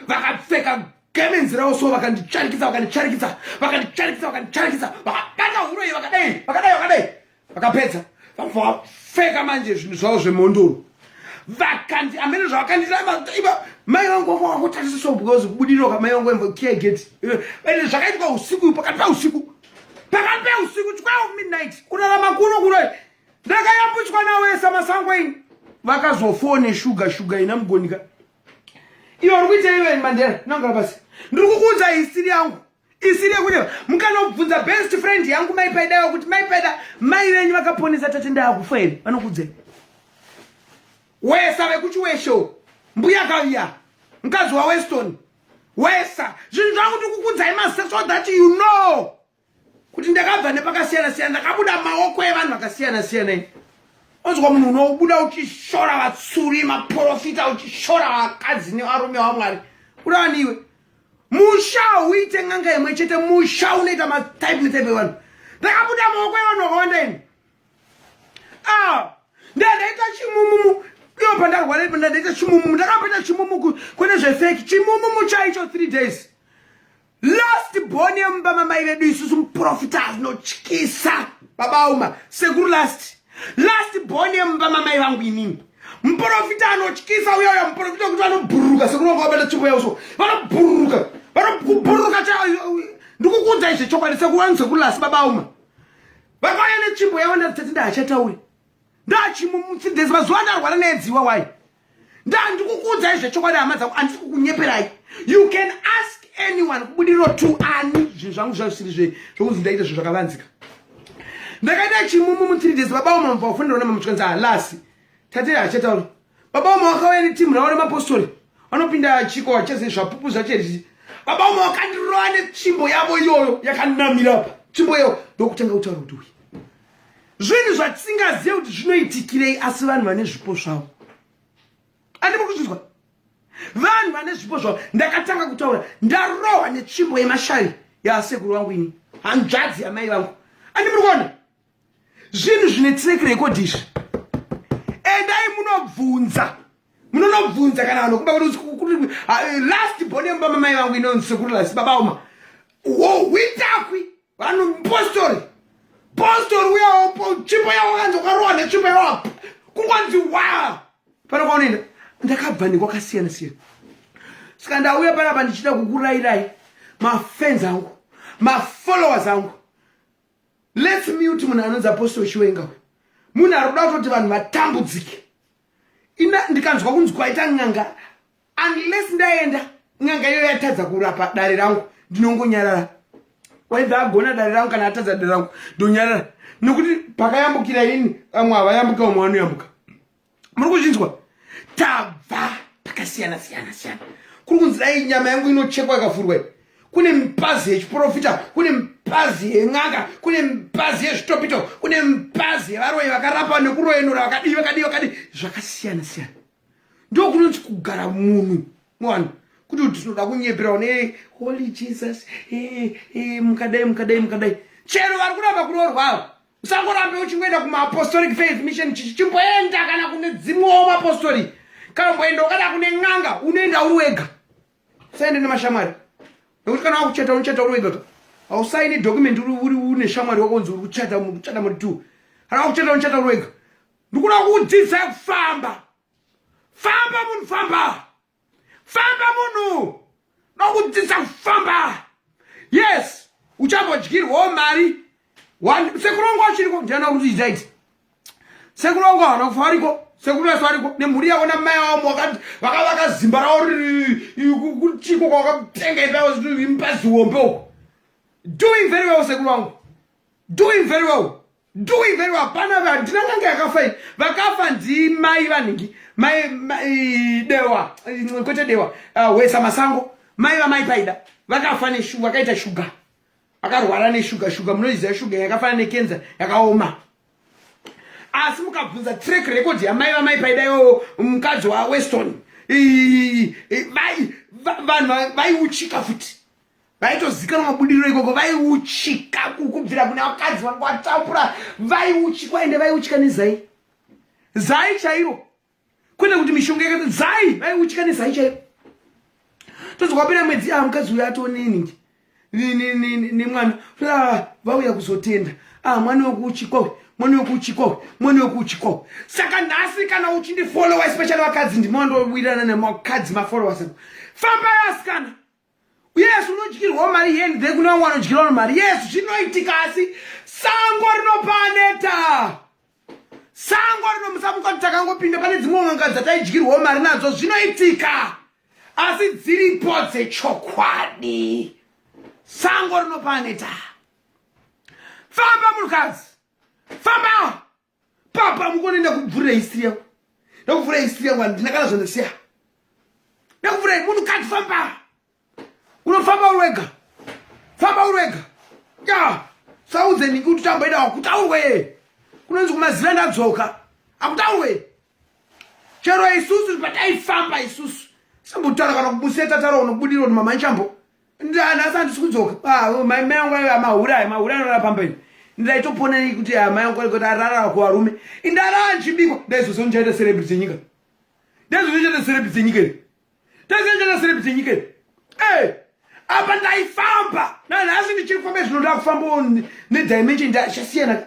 [SPEAKER 1] vakapfeka gemenzi ravo so vakandicharikisa vakandicharikisa vakandicharikisa vakandicharikisa vakabata huro iyi vakadai vakadai vakadai vakapedza vabva vapfeka manje zvinhu zvavo zvemhondoro vakandi amene zvavakanditaiba mai vangu vanga vakotarisiswa because kubudinoka mai vangu vaiva kiya geti ende zvakaitwa usiku pakati peusiku pakati peusiku 12 midnight kurarama kuno kuno ndakayambutswa nawesa masango ini vakazofone shuga shuga ina mugonika iyo uri kuita iwe mandera nangara basi ndiri kukuudza hisiri yangu isiri yekunyepa mukanobvunza best friend yangu mai paida kuti mai paida mai venyu vakaponesa tati ndaakufa here vanokudzai wesa vekuchiwesho mbuya kaviya mukadzi waweston wesa zvinhu zvangu tikukudzai mase so that you know kuti ndakabva nepakasiyana siyana ndakabuda maoko evanhu vakasiyana siyana i onzwa munhu unobuda uchishora vatsuri maprofita uchishora vakadzi nevarume wamwari kudavaniwe musha hauite n'anga imwe chete musha unoita matype netype evanhu ndakabuda maoko evanhu vakawanda ini ah, ndandaita chimumumu iyo pandarwara ipo ndandaita chimumumu ndakamboita chimumuku kwete zvefeki chimumumu chaicho three days last born yemumba mamai vedu isusu muprofita azinotyisa baba uma sekuru last last born yemumba mamai vangu inini muporofita anotyisa uyoyo muporofita wekuti vanobhururuka sekunonga wabata tsvimbo yavo so vanobhururuka vanobhururuka ndikukuudza izve chokwadi sekuwanise kulasi babauma vakauya netsvimbo yavo ndatati ndahachatauri ndachimumutsidhesi mazuva andarwara needziwa wai ndandikukuudzai zvechokwadi hama dzangu andisi kukunyeperai you can ask anyone kubudiriro to ani zvinhu zvangu zvazvisiri zvekunzi ndaita zvinhu zvakavanzika ndakaita chimumu mu 3 days baba wamamva wafundirwa namamuchikwanzi halasi tate hachatauri baba wama wakauya netimu ravo remapostori vanopinda chiko wachese zvapupu zvachezvi baba wama wakandirova netsvimbo yavo iyoyo yakanamirapa tsvimbo iyoyo ndokutanga kutaura kuti uyi zvinhu zvatisingazive kuti zvinoitikirei asi vanhu vane zvipo zvavo andimuri kuzvinzwa vanhu vane zvipo zvavo ndakatanga kutaura ndarohwa netsvimbo yemashari yaasekuru vangu ini hanzvadzi yamai vangu andi muri kuona zvinhu zvine track record izvi endai munobvunza munonobvunza kana vanhu kuba ah, last bone yemubamamai vangu inonzi sekuru lasi babauma wo hwitakwi vanhu mupostori postori uyaopo tsvimbo yavo kanzi ukarowa netsvimbo yavo kungonzi wa pana kwaunoenda ndakabva nekwakasiyana siyana saka ndauya panapa ndichida kukurayirai mafans angu mafollowers angu lets mute munhu anonzi apostol chiwenga uyu munhu ari kuda kutoti vanhu vatambudzike ina ndikanzwa kunzi kwaita n'anga unless ndaenda n'anga iyo yatadza kurapa dare rangu ndinongonyarara waibva agona dare rangu kana atadza dare rangu ndonyarara nokuti pakayambukira ini vamwe havayambuka vamwe vanoyambuka muri kuzvinzwa tabva pakasiyana siyana siyana kuri kunzi dai nyama yangu inochekwa yakavhurwa iyi kune mipazi yechiprofita kune mipazi yen'anga kune mipazi yezvitopito kune mipazi yevaroyi vakarapa nekuroyenura vakadii vakadii vakadii zvakasiyana siyana ndokunonzi kugara munhu mwana kuti tinoda kunyepera one holy jesus eh, eh, mukadai mukadai mukadai chero vari kuramba kuroorwavo usangorambe uchingoenda kumaapostolic faith mission chichi chimboenda kana kune dzimwewo maapostolic kana mboenda ukada kune n'anga unoenda uri wega usaende nemashamwari nekuti kana wakuchata unochata uri wega ka hausaini document uri une shamwari wakonzi uri kuchata kuchata muri two kana wakuchata unochata uri wega ndikuda kukudzidza kufamba famba munhu famba famba munhu nokudzidza kufamba yes uchambodyirwawo mari sekurongo chiriko ndiana kudzidza iti sekurongo hana kufa variko sekumeso variko nemhuri yavo namai vavo vakavaka zimba ravo kuchiko kwavakatenga ipawo impaziwombe uko doing very well sekurongo doing very well Do even hapana handina nanga yakafa iyi. Vakafa ndi mai vanhingi. Mai mai dewa kwete dewa. Uh, wesa masango. Mai va mai paida. Vakafa ne shuga vakaita shuga. Vakarwara ne shuga shuga munoiziva shuga yakafanana ne cancer yakaoma. Asi mukabvunza track record ya mai va mai paida yo mukadzi wa Weston. Ii, ii, ii, vai vanhu vaiuchika futi. vaitozikanwa mabudiriro ikoko vaiuchika kubvira kuna vakadzi vanga vatapura vaiuchikwa ende vaiuchika nezai zai chairo kwete kuti mishonga yakato zai vaiuchika nezai chairo tozokwapera mwedzi aa mukadzi uyo atoneningi nemwana ah, vauya kuzotenda ah, mwana wekuuchikwa uyu mwana wekuuchikwa uyu mwana wekuuchikwa uyu saka nhasi kana uchindifollowa especially vakadzi ndimawandowirana nemakadzi mafollowers famba yasikana Yes, unodyirwa mari yendi dze kune vamwe vanodyirwa mari. Yes, zvinoitika asi sango rinopaneta. Sango rinomusamuka takangopinda pane dzimwe n'anga dzataidyirwa mari nadzo zvinoitika. Asi dziripo dzechokwadi. Sango rinopaneta. Famba munhukadzi. Famba. papa mukone ndakubvurira history yangu ndakubvurira history yangu handina kana zvandasiya ndakubvurira munhu kati famba unofamba uri wega famba uri wega ya saudze niki kuti tambaida wakutaurwe kunonzi kumaziva ndadzoka akutaurwe chero isusu pataifamba isusu sambotaura kana kubuseta taura unobudiro ni mama nchambo ndanhasi handisi kudzoka ah, mai mai angu aiva mahura ayo mahura anorara pamba ino ndaitoponei kuti ah, mai angu kuti ararara kuvarume indarara ndichibikwa ndaizozondichaita serebri dzenyika ndaizozondichaita serebri dzenyika iri tazenjeresere kuti nyika iyi eh, apa ndaifamba nanhasi ndichiri kufamba izvino ndakufambawo nedimension ndachasiyana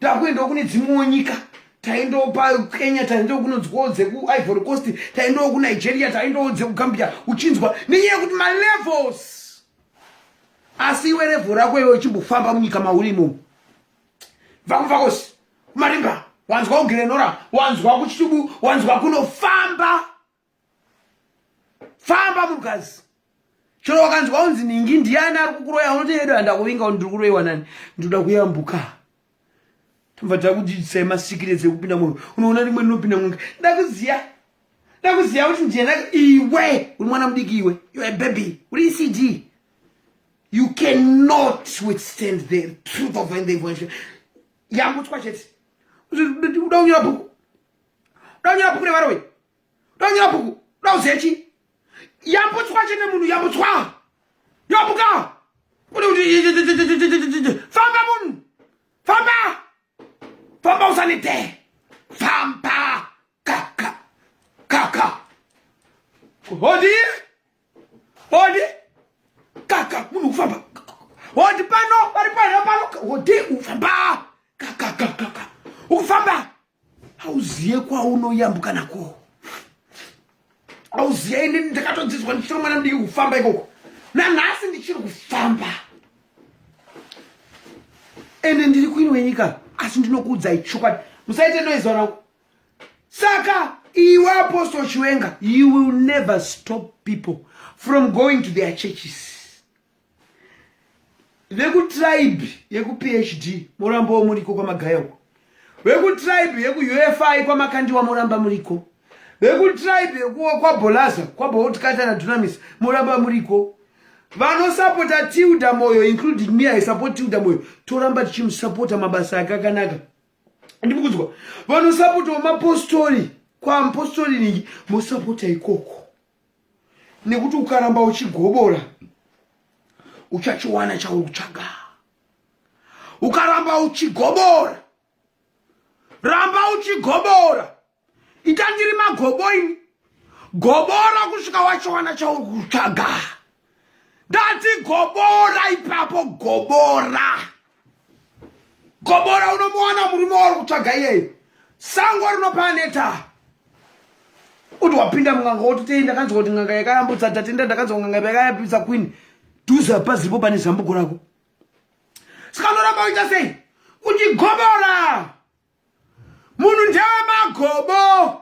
[SPEAKER 1] ndakuendawo kune dzimwewo nyika taendawo pakenya taendawo kunonzwawo dzekuivory coast taendawo kunigeria taendawo dzekugambia uchinzwa nenyaya yekuti malevels asi iwe level rako iwe uchimbofamba munyika mauri imomo vakuvakosi marimba wanzwa kugirenora wanzwa kuchitubu wanzwa kunofamba famba munhukadzi chero wakanzwa unzi ningi ndiani ari kukuroya unoti edu handakuvinga ndiri kuroiwa nani ndinoda kuyambuka tobva takudzidzisai masikire dzekupinda munhu unoona rimwe rinopinda munhu ndakuziya ndakuziya kuti ndiyena iwe uri mwana mudiki iwe youare baby uri ecd you cannot withstand the truth of the information yambutswa chete uda kunyora bhuku uda kunyora bhuku revaroyi donyera bhuku dauzechi yambutswa chete munhu yambutswa yobuka kuti kuti famba munhu famba famba usanite famba kaka kaka hodi hodi kaka munhu kufamba hodi pano vari pano pano hodi ufamba kaka kaka ukufamba hauziye kwaunoyambuka nako hauziye ini ndakatodzidzwa ndichiri mwana mudiki kufamba ikoko nanhasi ndichiri kufamba ende ndiri kuini wenyika asi ndinokuudzai chokwadi musaite noise vanangu saka iwe apostle chiwenga you will never stop people from going to their churches vekutribe yekuphd morambawo muriko kwamagaya uko vekutribe yekuufi kwamakandiwa moramba muriko vekutribe kwabolaza kwabaotikata nadunamis moramba muriko vanosapota tilda moyo including me i support tilda moyo toramba tichimusapota mabasa ake akanaka ndikukudzwa vanosapotawo mapostori kwamupostori ningi mosapota ikoko nekuti ukaramba uchigobora uchachiwana chauri kutsvaga ukaramba uchigobora ramba uchigobora ita ndiri magobo ini gobora kusvika wachiwana chauri kutsvaga ndati gobora ipapo gobora gobora unomuwana murume wauri kutsvaga iyeyo sango rinopaneta kuti wapinda munganga wototei ndakanzwa kuti nganga yakayambutsa tatenda ndakanzwa nganga yakayambutsa kwini dhuza paziripo pane zambuko rako saka unoramba uita sei kuti gobora munhu ndewe magobo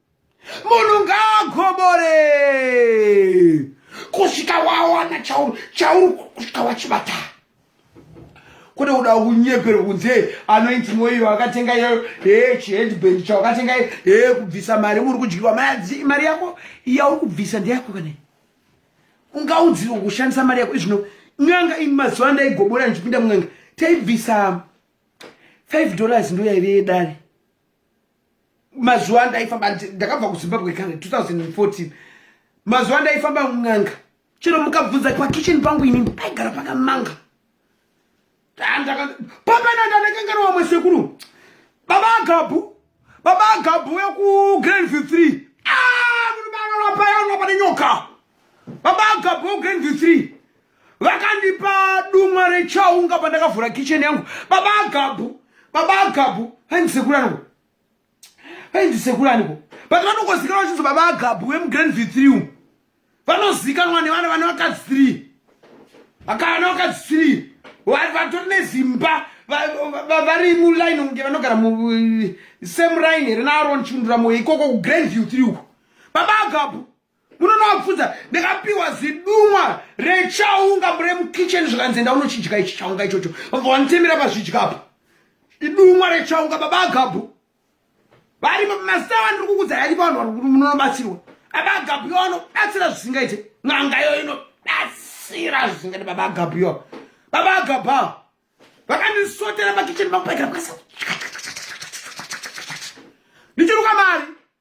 [SPEAKER 1] munhu ngaagobore kusvika wawana chauri chauri kusvika wachibata kune kuda kunyeperwa kunzi hey anoiti moiyo akatenga iyoyo he chiheadband chawakatenga he kubvisa mari muri kudyiwa madzi mari yako yauri kubvisa ndeyako kana ungaudziwa kushandisa mari yako izvino n'anga ini mazuva andaigobora ndichipinda mun'anga taibvisa five dollars ndoyaive yedare mazuva andaifamba ndakabva kuzimbabwe kare 2014 mazuva andaifamba mun'anga chero mukabvunza pakitchen pangu inini paigara pakamanga pamananda ndakangana wamwe sekuru baba agabhu baba agabhu wekugrandview three aaaapa ah, yanapa nenyoka baba agabhu wekugrandview three vakandipa dumwa rechaunga pandakavhura kicheni yangu baba agabhu baba agabhu vaindisekurani ko vaindisekurani ko but vanokozikanwa vachinzi baba agabhu vemugrand v three umu vanozikanwa nevana vane vakadzi three vakavana vakadzi three vatori nezimba vari muline kunge vanogara same line here naaron chindura moyo ikoko kugrand view three uko baba agabhu munonoabvunza ndakapiwa zidumwa rechaunga mure mukitchen zvikanzi enda unochidya ichi chaunga ichocho vabva vanitemera pazvidya apa idumwa rechaunga baba agabhu vari mazita vandiri kukudza yari vanhu vari munonobatsirwa baba agabhu yo anobatsira zvisingaite n'anga yo inobatsira zvisingaite baba agabhu yo baba agabha vakandisotera pakitchen vangu paikira kukasa ndichiruka mari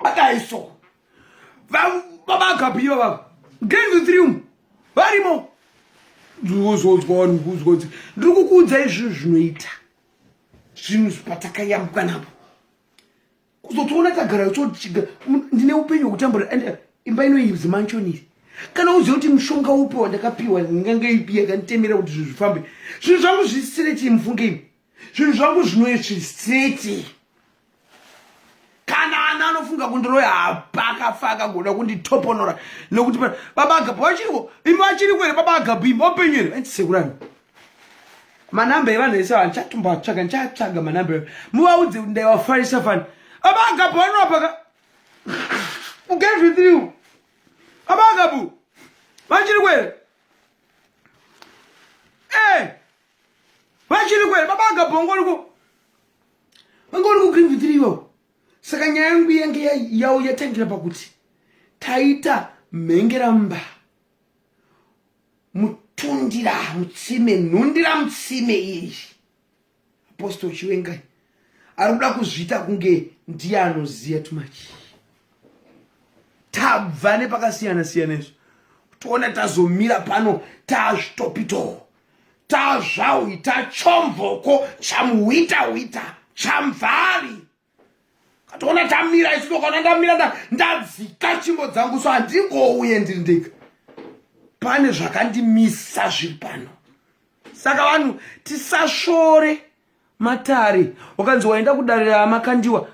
[SPEAKER 1] akadai so vabagabiva vavo ngenvitrium varimo ndikuzodzwa vanhu kuzodzi ndiri kukuudza izvii zvinoita zvinhu zvatakayambuka napo kuzotoona tagara yototiga ndine upenyu hwekutambura and imba inoibzi manchoniri kana uziva kuti mushonga upi wandakapiwa ndingange ipi yakanditemera kuti zvinhu zvifambe zvinhu zvangu zvisisire chii mufunge imi zvinhu zvangu zvinouye chiri straight kana ana anofunga kundiroya hapakafa akagoda kunditoponora nokuti baba agabu vachiriko imi vachiriko here baba agabu imi vapenyu here vachisekurani manamba evanhu ese vanhu chatomboatsvaga ndichatsvaga manamba muvaudze kuti ndaivafarisa fani baba agabu vanorapaka uget with you baba agabu vachiriko here e eh, vachiri kwere baba agabhongo riko vanga uri kugreen vhitiri iwawo saka nyaya yangu yange yawo yatangira pakuti taita mhengeramba mutundira mutsime nhundira mutsime iri apostol chiwengai ari kuda kuzviita kunge ndiye anoziva tumachi tabva nepakasiyana siyana izvo toona tazomira pano tazvitopitoo tazvauita chomvoko chamuhwita hwita chamvari katoona tamira isu tokaona ndamira ndadzika chimbo dzangu so handingouye ndiri ndega pane zvakandimisa zviri pano saka vanhu tisasvore matare ukanzi waenda kudarira amakandiwa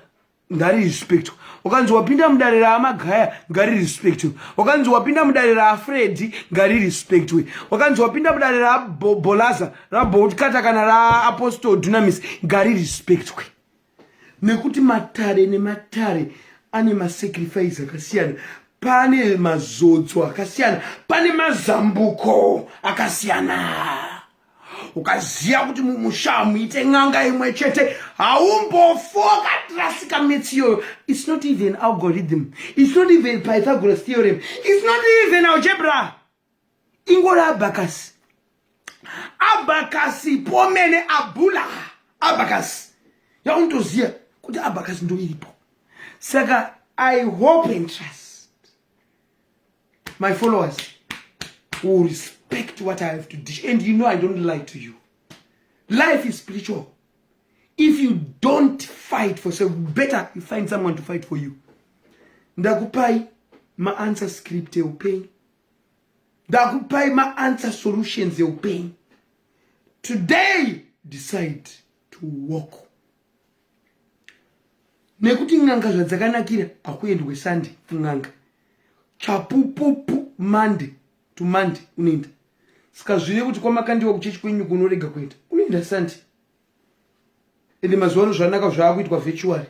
[SPEAKER 1] ngari respect wakanzi wapinda mudare raamagaya ngari respect wakanzi wapinda mudare raafredi ngari respect we wakanzi wapinda mudare rabolaza raboutkata kana raapostol dunamis ngari respect we nekuti matare nematare ane masacrifice akasiyana pane mazodzo akasiyana pane mazambuko akasiyana ukaziva kuti mumusha hamuite n'anga imwe chete haumbofoka tirasika metsi iyoyo its not even algorithm its not even pythagoras theorem its not even algebra ingori abacas abacas pomene abula abacas yaunotoziva kuti abacas ndoiripo saka i hope and trust my followers will respect what i have to dish and you know i don't lie to you life is spiritual if you don't fight for self better you find someone to fight for you ndakupai maanswer script eupenyu ndakupai maanswer solutions eupenyu today decide to walk nekuti n'anga zvadzakanakira hakuendwe sunday kun'anga chapupupu monday to monday unoenda saka zvive kuti kwamakandiwa kuchechi kwenyu kunorega kuenda unoenda sunday ende mazuva ano zvanaka zvaakuitwa virtually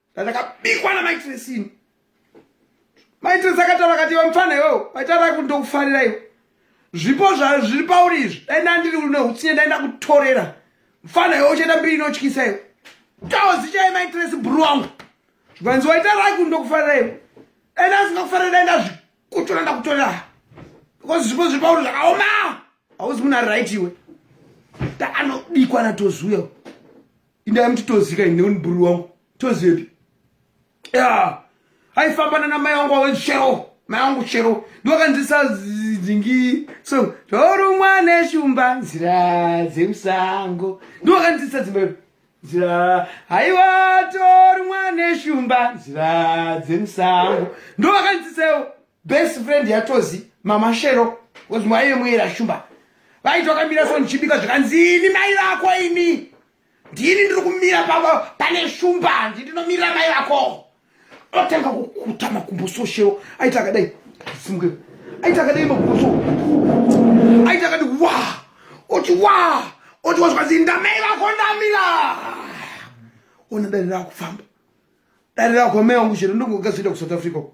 [SPEAKER 1] ndakabikwa na maitresini maitresi akataura kati iwe mfana iwewo paitaura kuti ndokufarira iwe zvipo zviri pauri izvi dai ndandiri une utsinye dai ndakutorera mfana iwewo uchaita mbiri inotyisa iwe kaozi chai maitresi bhuru wangu zvikanzi waitaura kuti ndokufarira iwe dai ndasingakufarira dai ndazvikutora ndakutorera because zvipo zviri pauri zvakaoma hauzi munhu ari right iwe taanobikwa natozuya indai mutitozika ine uniburi wangu tozepi ya aifambana namai wangu wawe chero mai wangu chero ndiwakanzisa dzingi so torumwa neshumba nzira dzemusango ndiwakanzisa dzimba ipi nzira haiwa torumwa neshumba nzira dzemusango ndiwakanzisewo best friend yatozi mama shero bcause mwaive muera shumba vaiti vakamira so ndichibika zvikanzini mai vako ini ndini ndiri kumira pavo pane shumba handi ndinomirira mai vako otanga kukuta makumbo so shero aiti akadai simuke aiti akadai makumbo so aiti akadi wa oti wa oti wazvikanzini ndamai vako ndamira ona dare raakufamba dare rako mai wangu shero ndongogazoenda kusouth africa uko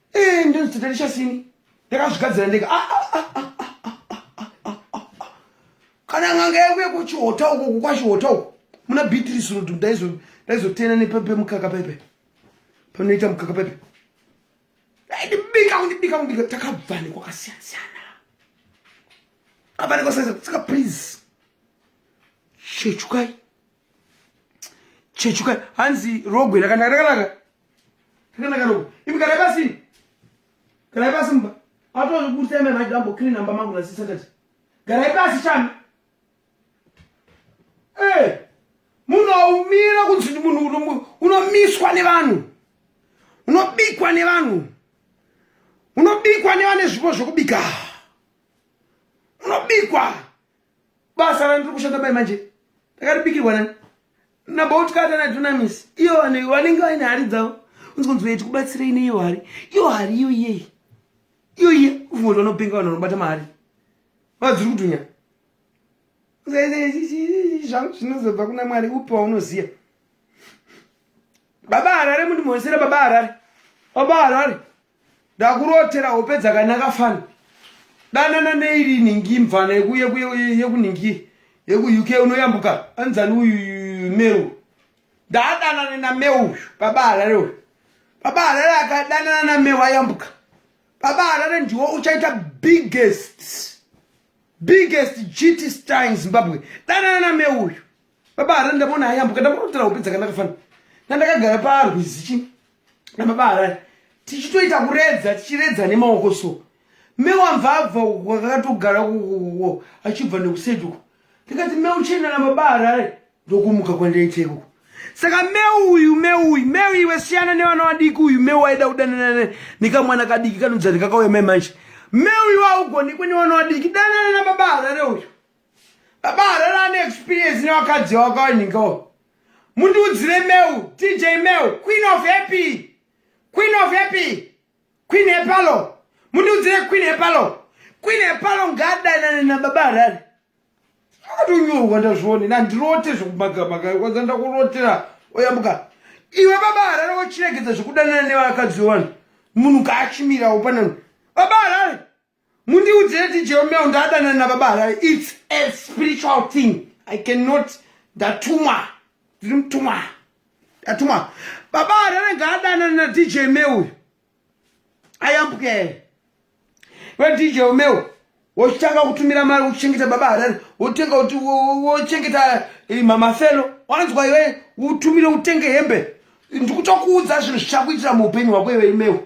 [SPEAKER 1] Eh, ndio tutalisha sini. Ndakazvigadzira ndega. Ah, ah, ah, kana nganga yauya kuchihota uko kukwashihota uko muna beatrice road ndaizotena nepepe mukaka pepe panoita mukaka pepe ndibika kundibika kundibika takabva nekwakasiyana siyana abane kwasiyana saka please chechukai chechukai hanzi rogwe rakanaka rakanaka Kanaka rogo. Ibi kare basi. Kare basi mba. Ato kubuta ime na jambo clean namba mangu na sisa tati. Kare basi chami. Eh. Munoumira kunzi munhu unomiswa nevanhu. Unobikwa nevanhu. Unobikwa nevane zvipo zvokubika. Unobikwa. basa randiri kushanda mai manje ndakaribikirwa nani nabautkata nadunamis iyo vanhu vanenge vaine hari dzavo unzi kunzi vaiti kubatsirei neiyo hari iyo hari iyo iyei iyo iye ufunga kuti vanopenga vanhu vanobata mahari vadziri kudunya zvangu zvinozobva kuna mwari upi waunoziva baba harare mundimhonesera baba harare baba harare ndakurotera hope dzakanaka fana danana neiri nhingi mvana yekunhingi yekuuk unoyambuka anzani uyu meu ndadanane nameu uyu baba harare uyu baba harare akadanana nameu ayambuka baba harare ndiwo uchaita biggest biggest gt star in zimbabwe danana nameu uyu baba harani ndamona ayambuka ndamorotera hope dzakanaka fana nandakagara parwizi chi namaba harani tichitoita kuredza tichiredza nemaoko so mewamvabva wakatogara kukukuko achibva nekuseduko ndikati meuchena namaba harani ndokumuka kwandaita ikuko saka meu uyu meu uyu meu iwe siyana nevana vadiki uyu meu waida kudanana nekamwana kadiki kanonzi andikakauya mai manje meu iwe augoni kune vana vadiki danana namaba harare uyu Baba Harare ane experience nevakadzi wakawanhingawo. Mundiudzire Meu, TJ Meu, Queen of Happy. Queen of Happy. Queen Hepalo. Mundiudzire Queen Hepalo. Queen Hepalo ngadanane nababa Harare. Akatonyorwa ndazvione nandirote zvekumagamaka kwanza ndakurotera oyambuka. Iwe baba Harare wochiregedza zvekudanana nevakadzi wevanhu. Munhu kaachimirawo panano. Baba Harare. mundiudzire ti jeromeo ndadanana nababa harare its a spiritual thing i cannot ndatumwa ndiri mutumwa ndatumwa baba harare ngaadanana nadj me uyu ayambuke here wedj omeo wochitanga kutumira mari wochengeta baba harare wotenga kuti wochengeta eh, mamafelo wanzwa iwe utumire utenge hembe ndikutokuudza zvinhu zvichakuitira muupenyu hwako iwe imeo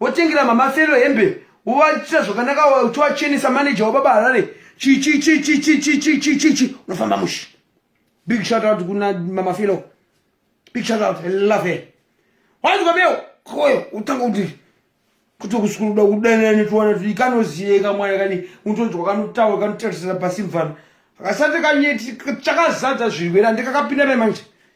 [SPEAKER 1] wotengera mama felo hembe wovaitira zvakanaka uchiwachenesa manager wababa harare chichichi unofamba mushi big shout out kuna mama felo big shout out love her wanzwa beo koyo utanga kuti kuti kusukuruda kudanani tiwana kuti ikanoziyeka mwana kani utonzwa kanotaura kanotarisira pasi mvana akasati kanyeti chakazadza zvirwere andikakapinda mai manje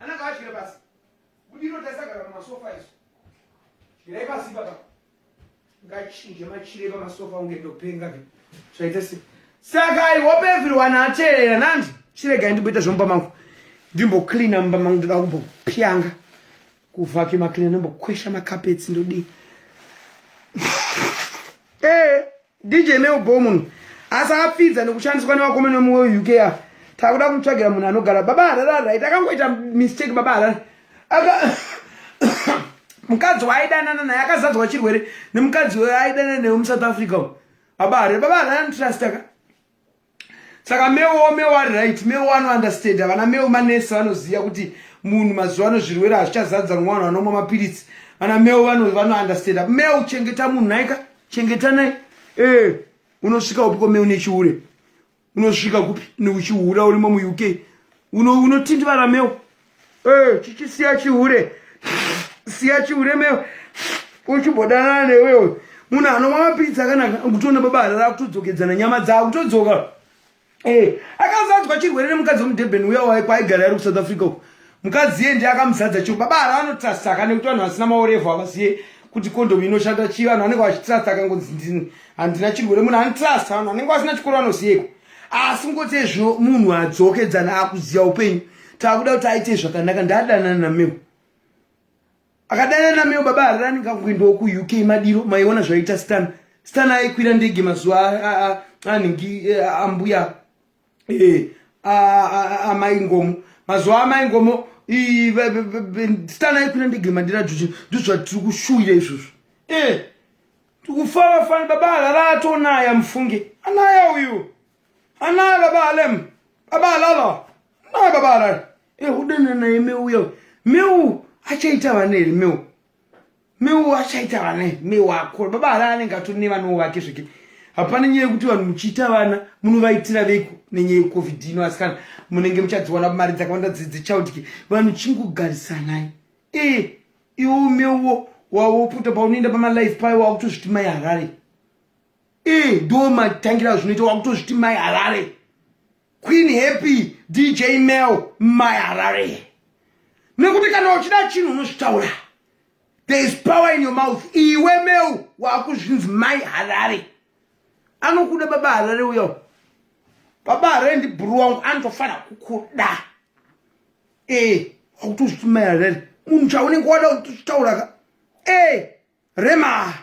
[SPEAKER 1] Ananga adyira pasi. Budiro tasagara pamasofa isu. Dyirai pasi baba. Ngachinje machire pamasofa unge ndopenga ke. Zvaita se. Saka I hope everyone ateerera nandi. Chiregai ndimboita zvomba mangu. Ndimbo cleaner mumba mangu ndoda kumbopyanga. Kuvhaki macleaner ndombokwesha makapetsi ndodii. Eh. DJ Mel Bo munhu asi apfidza nekushandiswa nevakomana vemumwe weUK ava. Takuda kumutsvagira munhu anogara. Baba Harare ari right. Akangoita mistake baba Harare. Aka mukadzi waaidanana naye akazadzwa chirwere nemukadzi waaidanana naye muSouth Africa. Baba Harare, baba Harare anotrust aka. saka mewo mewo ari right mewo anounderstand vana mewo manesi vanoziva kuti munhu mazuva ano zvirwere hazvichazadza nwa vanhu vanomwa mapiritsi vana mewo vanounderstand mewo chengeta munhu naika chengeta nai ee unosvika upi ko mewo nechihure unosvika kupi neuchiura urimo muuk unotindivara mewo Eh, chichi siya chihure. Siya chihure me uchibodana newe uyu. Munhu anomwa pizza kana kutona baba rara kutodzokedzana nyama dzavo kutodzoka. Eh, akazadzwa chirwere nemukadzi wemudurban uya waye kwaigara ari kusouth africa uku mukadzi iye ndiye akamuzadza chiro baba ara anotrastaka nekuti vanhu vasina maorevo havaziye kuti kondomu inoshanda chii vanhu vanenge vachitrasta akangonzi ndini handina chirwere munhu anotrasta vanhu vanenge vasina chikoro vanoziyeko asi ngoti ezvo munhu adzokedzana akuziva upenyu takuda kuti aite zvakanaka ndadanana nameo akadanana nameo baba harirani ngakuendawo kuuk madiro maiona zvaiita stan stan aikwira ndege mazuva anhingi e, ambuya e, amai ngomo mazuva amai ngomo stan aikwira ndege mandira juji ndozvatiri kushuwira izvozvo e, tikufara fani baba harara atonaya mufunge anaya uyu Ana baba alem. Baba alala. Na baba alala. Eh hudene na imeu yo. Meu achaita vane ri meu. Meu achaita vane meu akho. Baba alala anenge atone vana wake zvike. Hapana nyaya yekuti vanhu muchiita vana munovaitira veku nenyaya yecovid ino asikana munenge muchadziwana mari dzakawanda dzichildki vanhu chingogarisanai e iwo meuwo wawopota paunoenda pamalife payo wakutozviti mai harare e ndo matangira zvinoita wakutozviti mai harare queen happy dj mel mai harare nekuti kana uchida chinhu unozvitaura there is power in your mouth iwe mel wakuzvinzi mai harare anokuda baba harare uya baba harare ndibhuru wangu anotofanira kukuda e wakutozviti mai harare munhu chaunenge wada kutozvitauraka e rema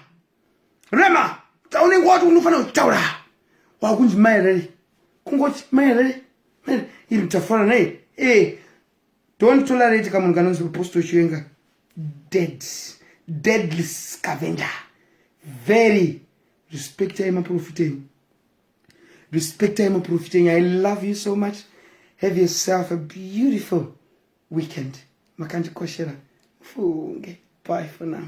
[SPEAKER 1] rema taunenge wati unofanira kutaura wakunzi maerere kungoti maerere iri tafara nei e don't tolerate kamunhu kanonzi apostle chiwenga dead deadly scavenger very respectai maprofita enyu respectai maprofita enyu i love you so much have yourself a beautiful weekend makandikoshera mufunge bye for now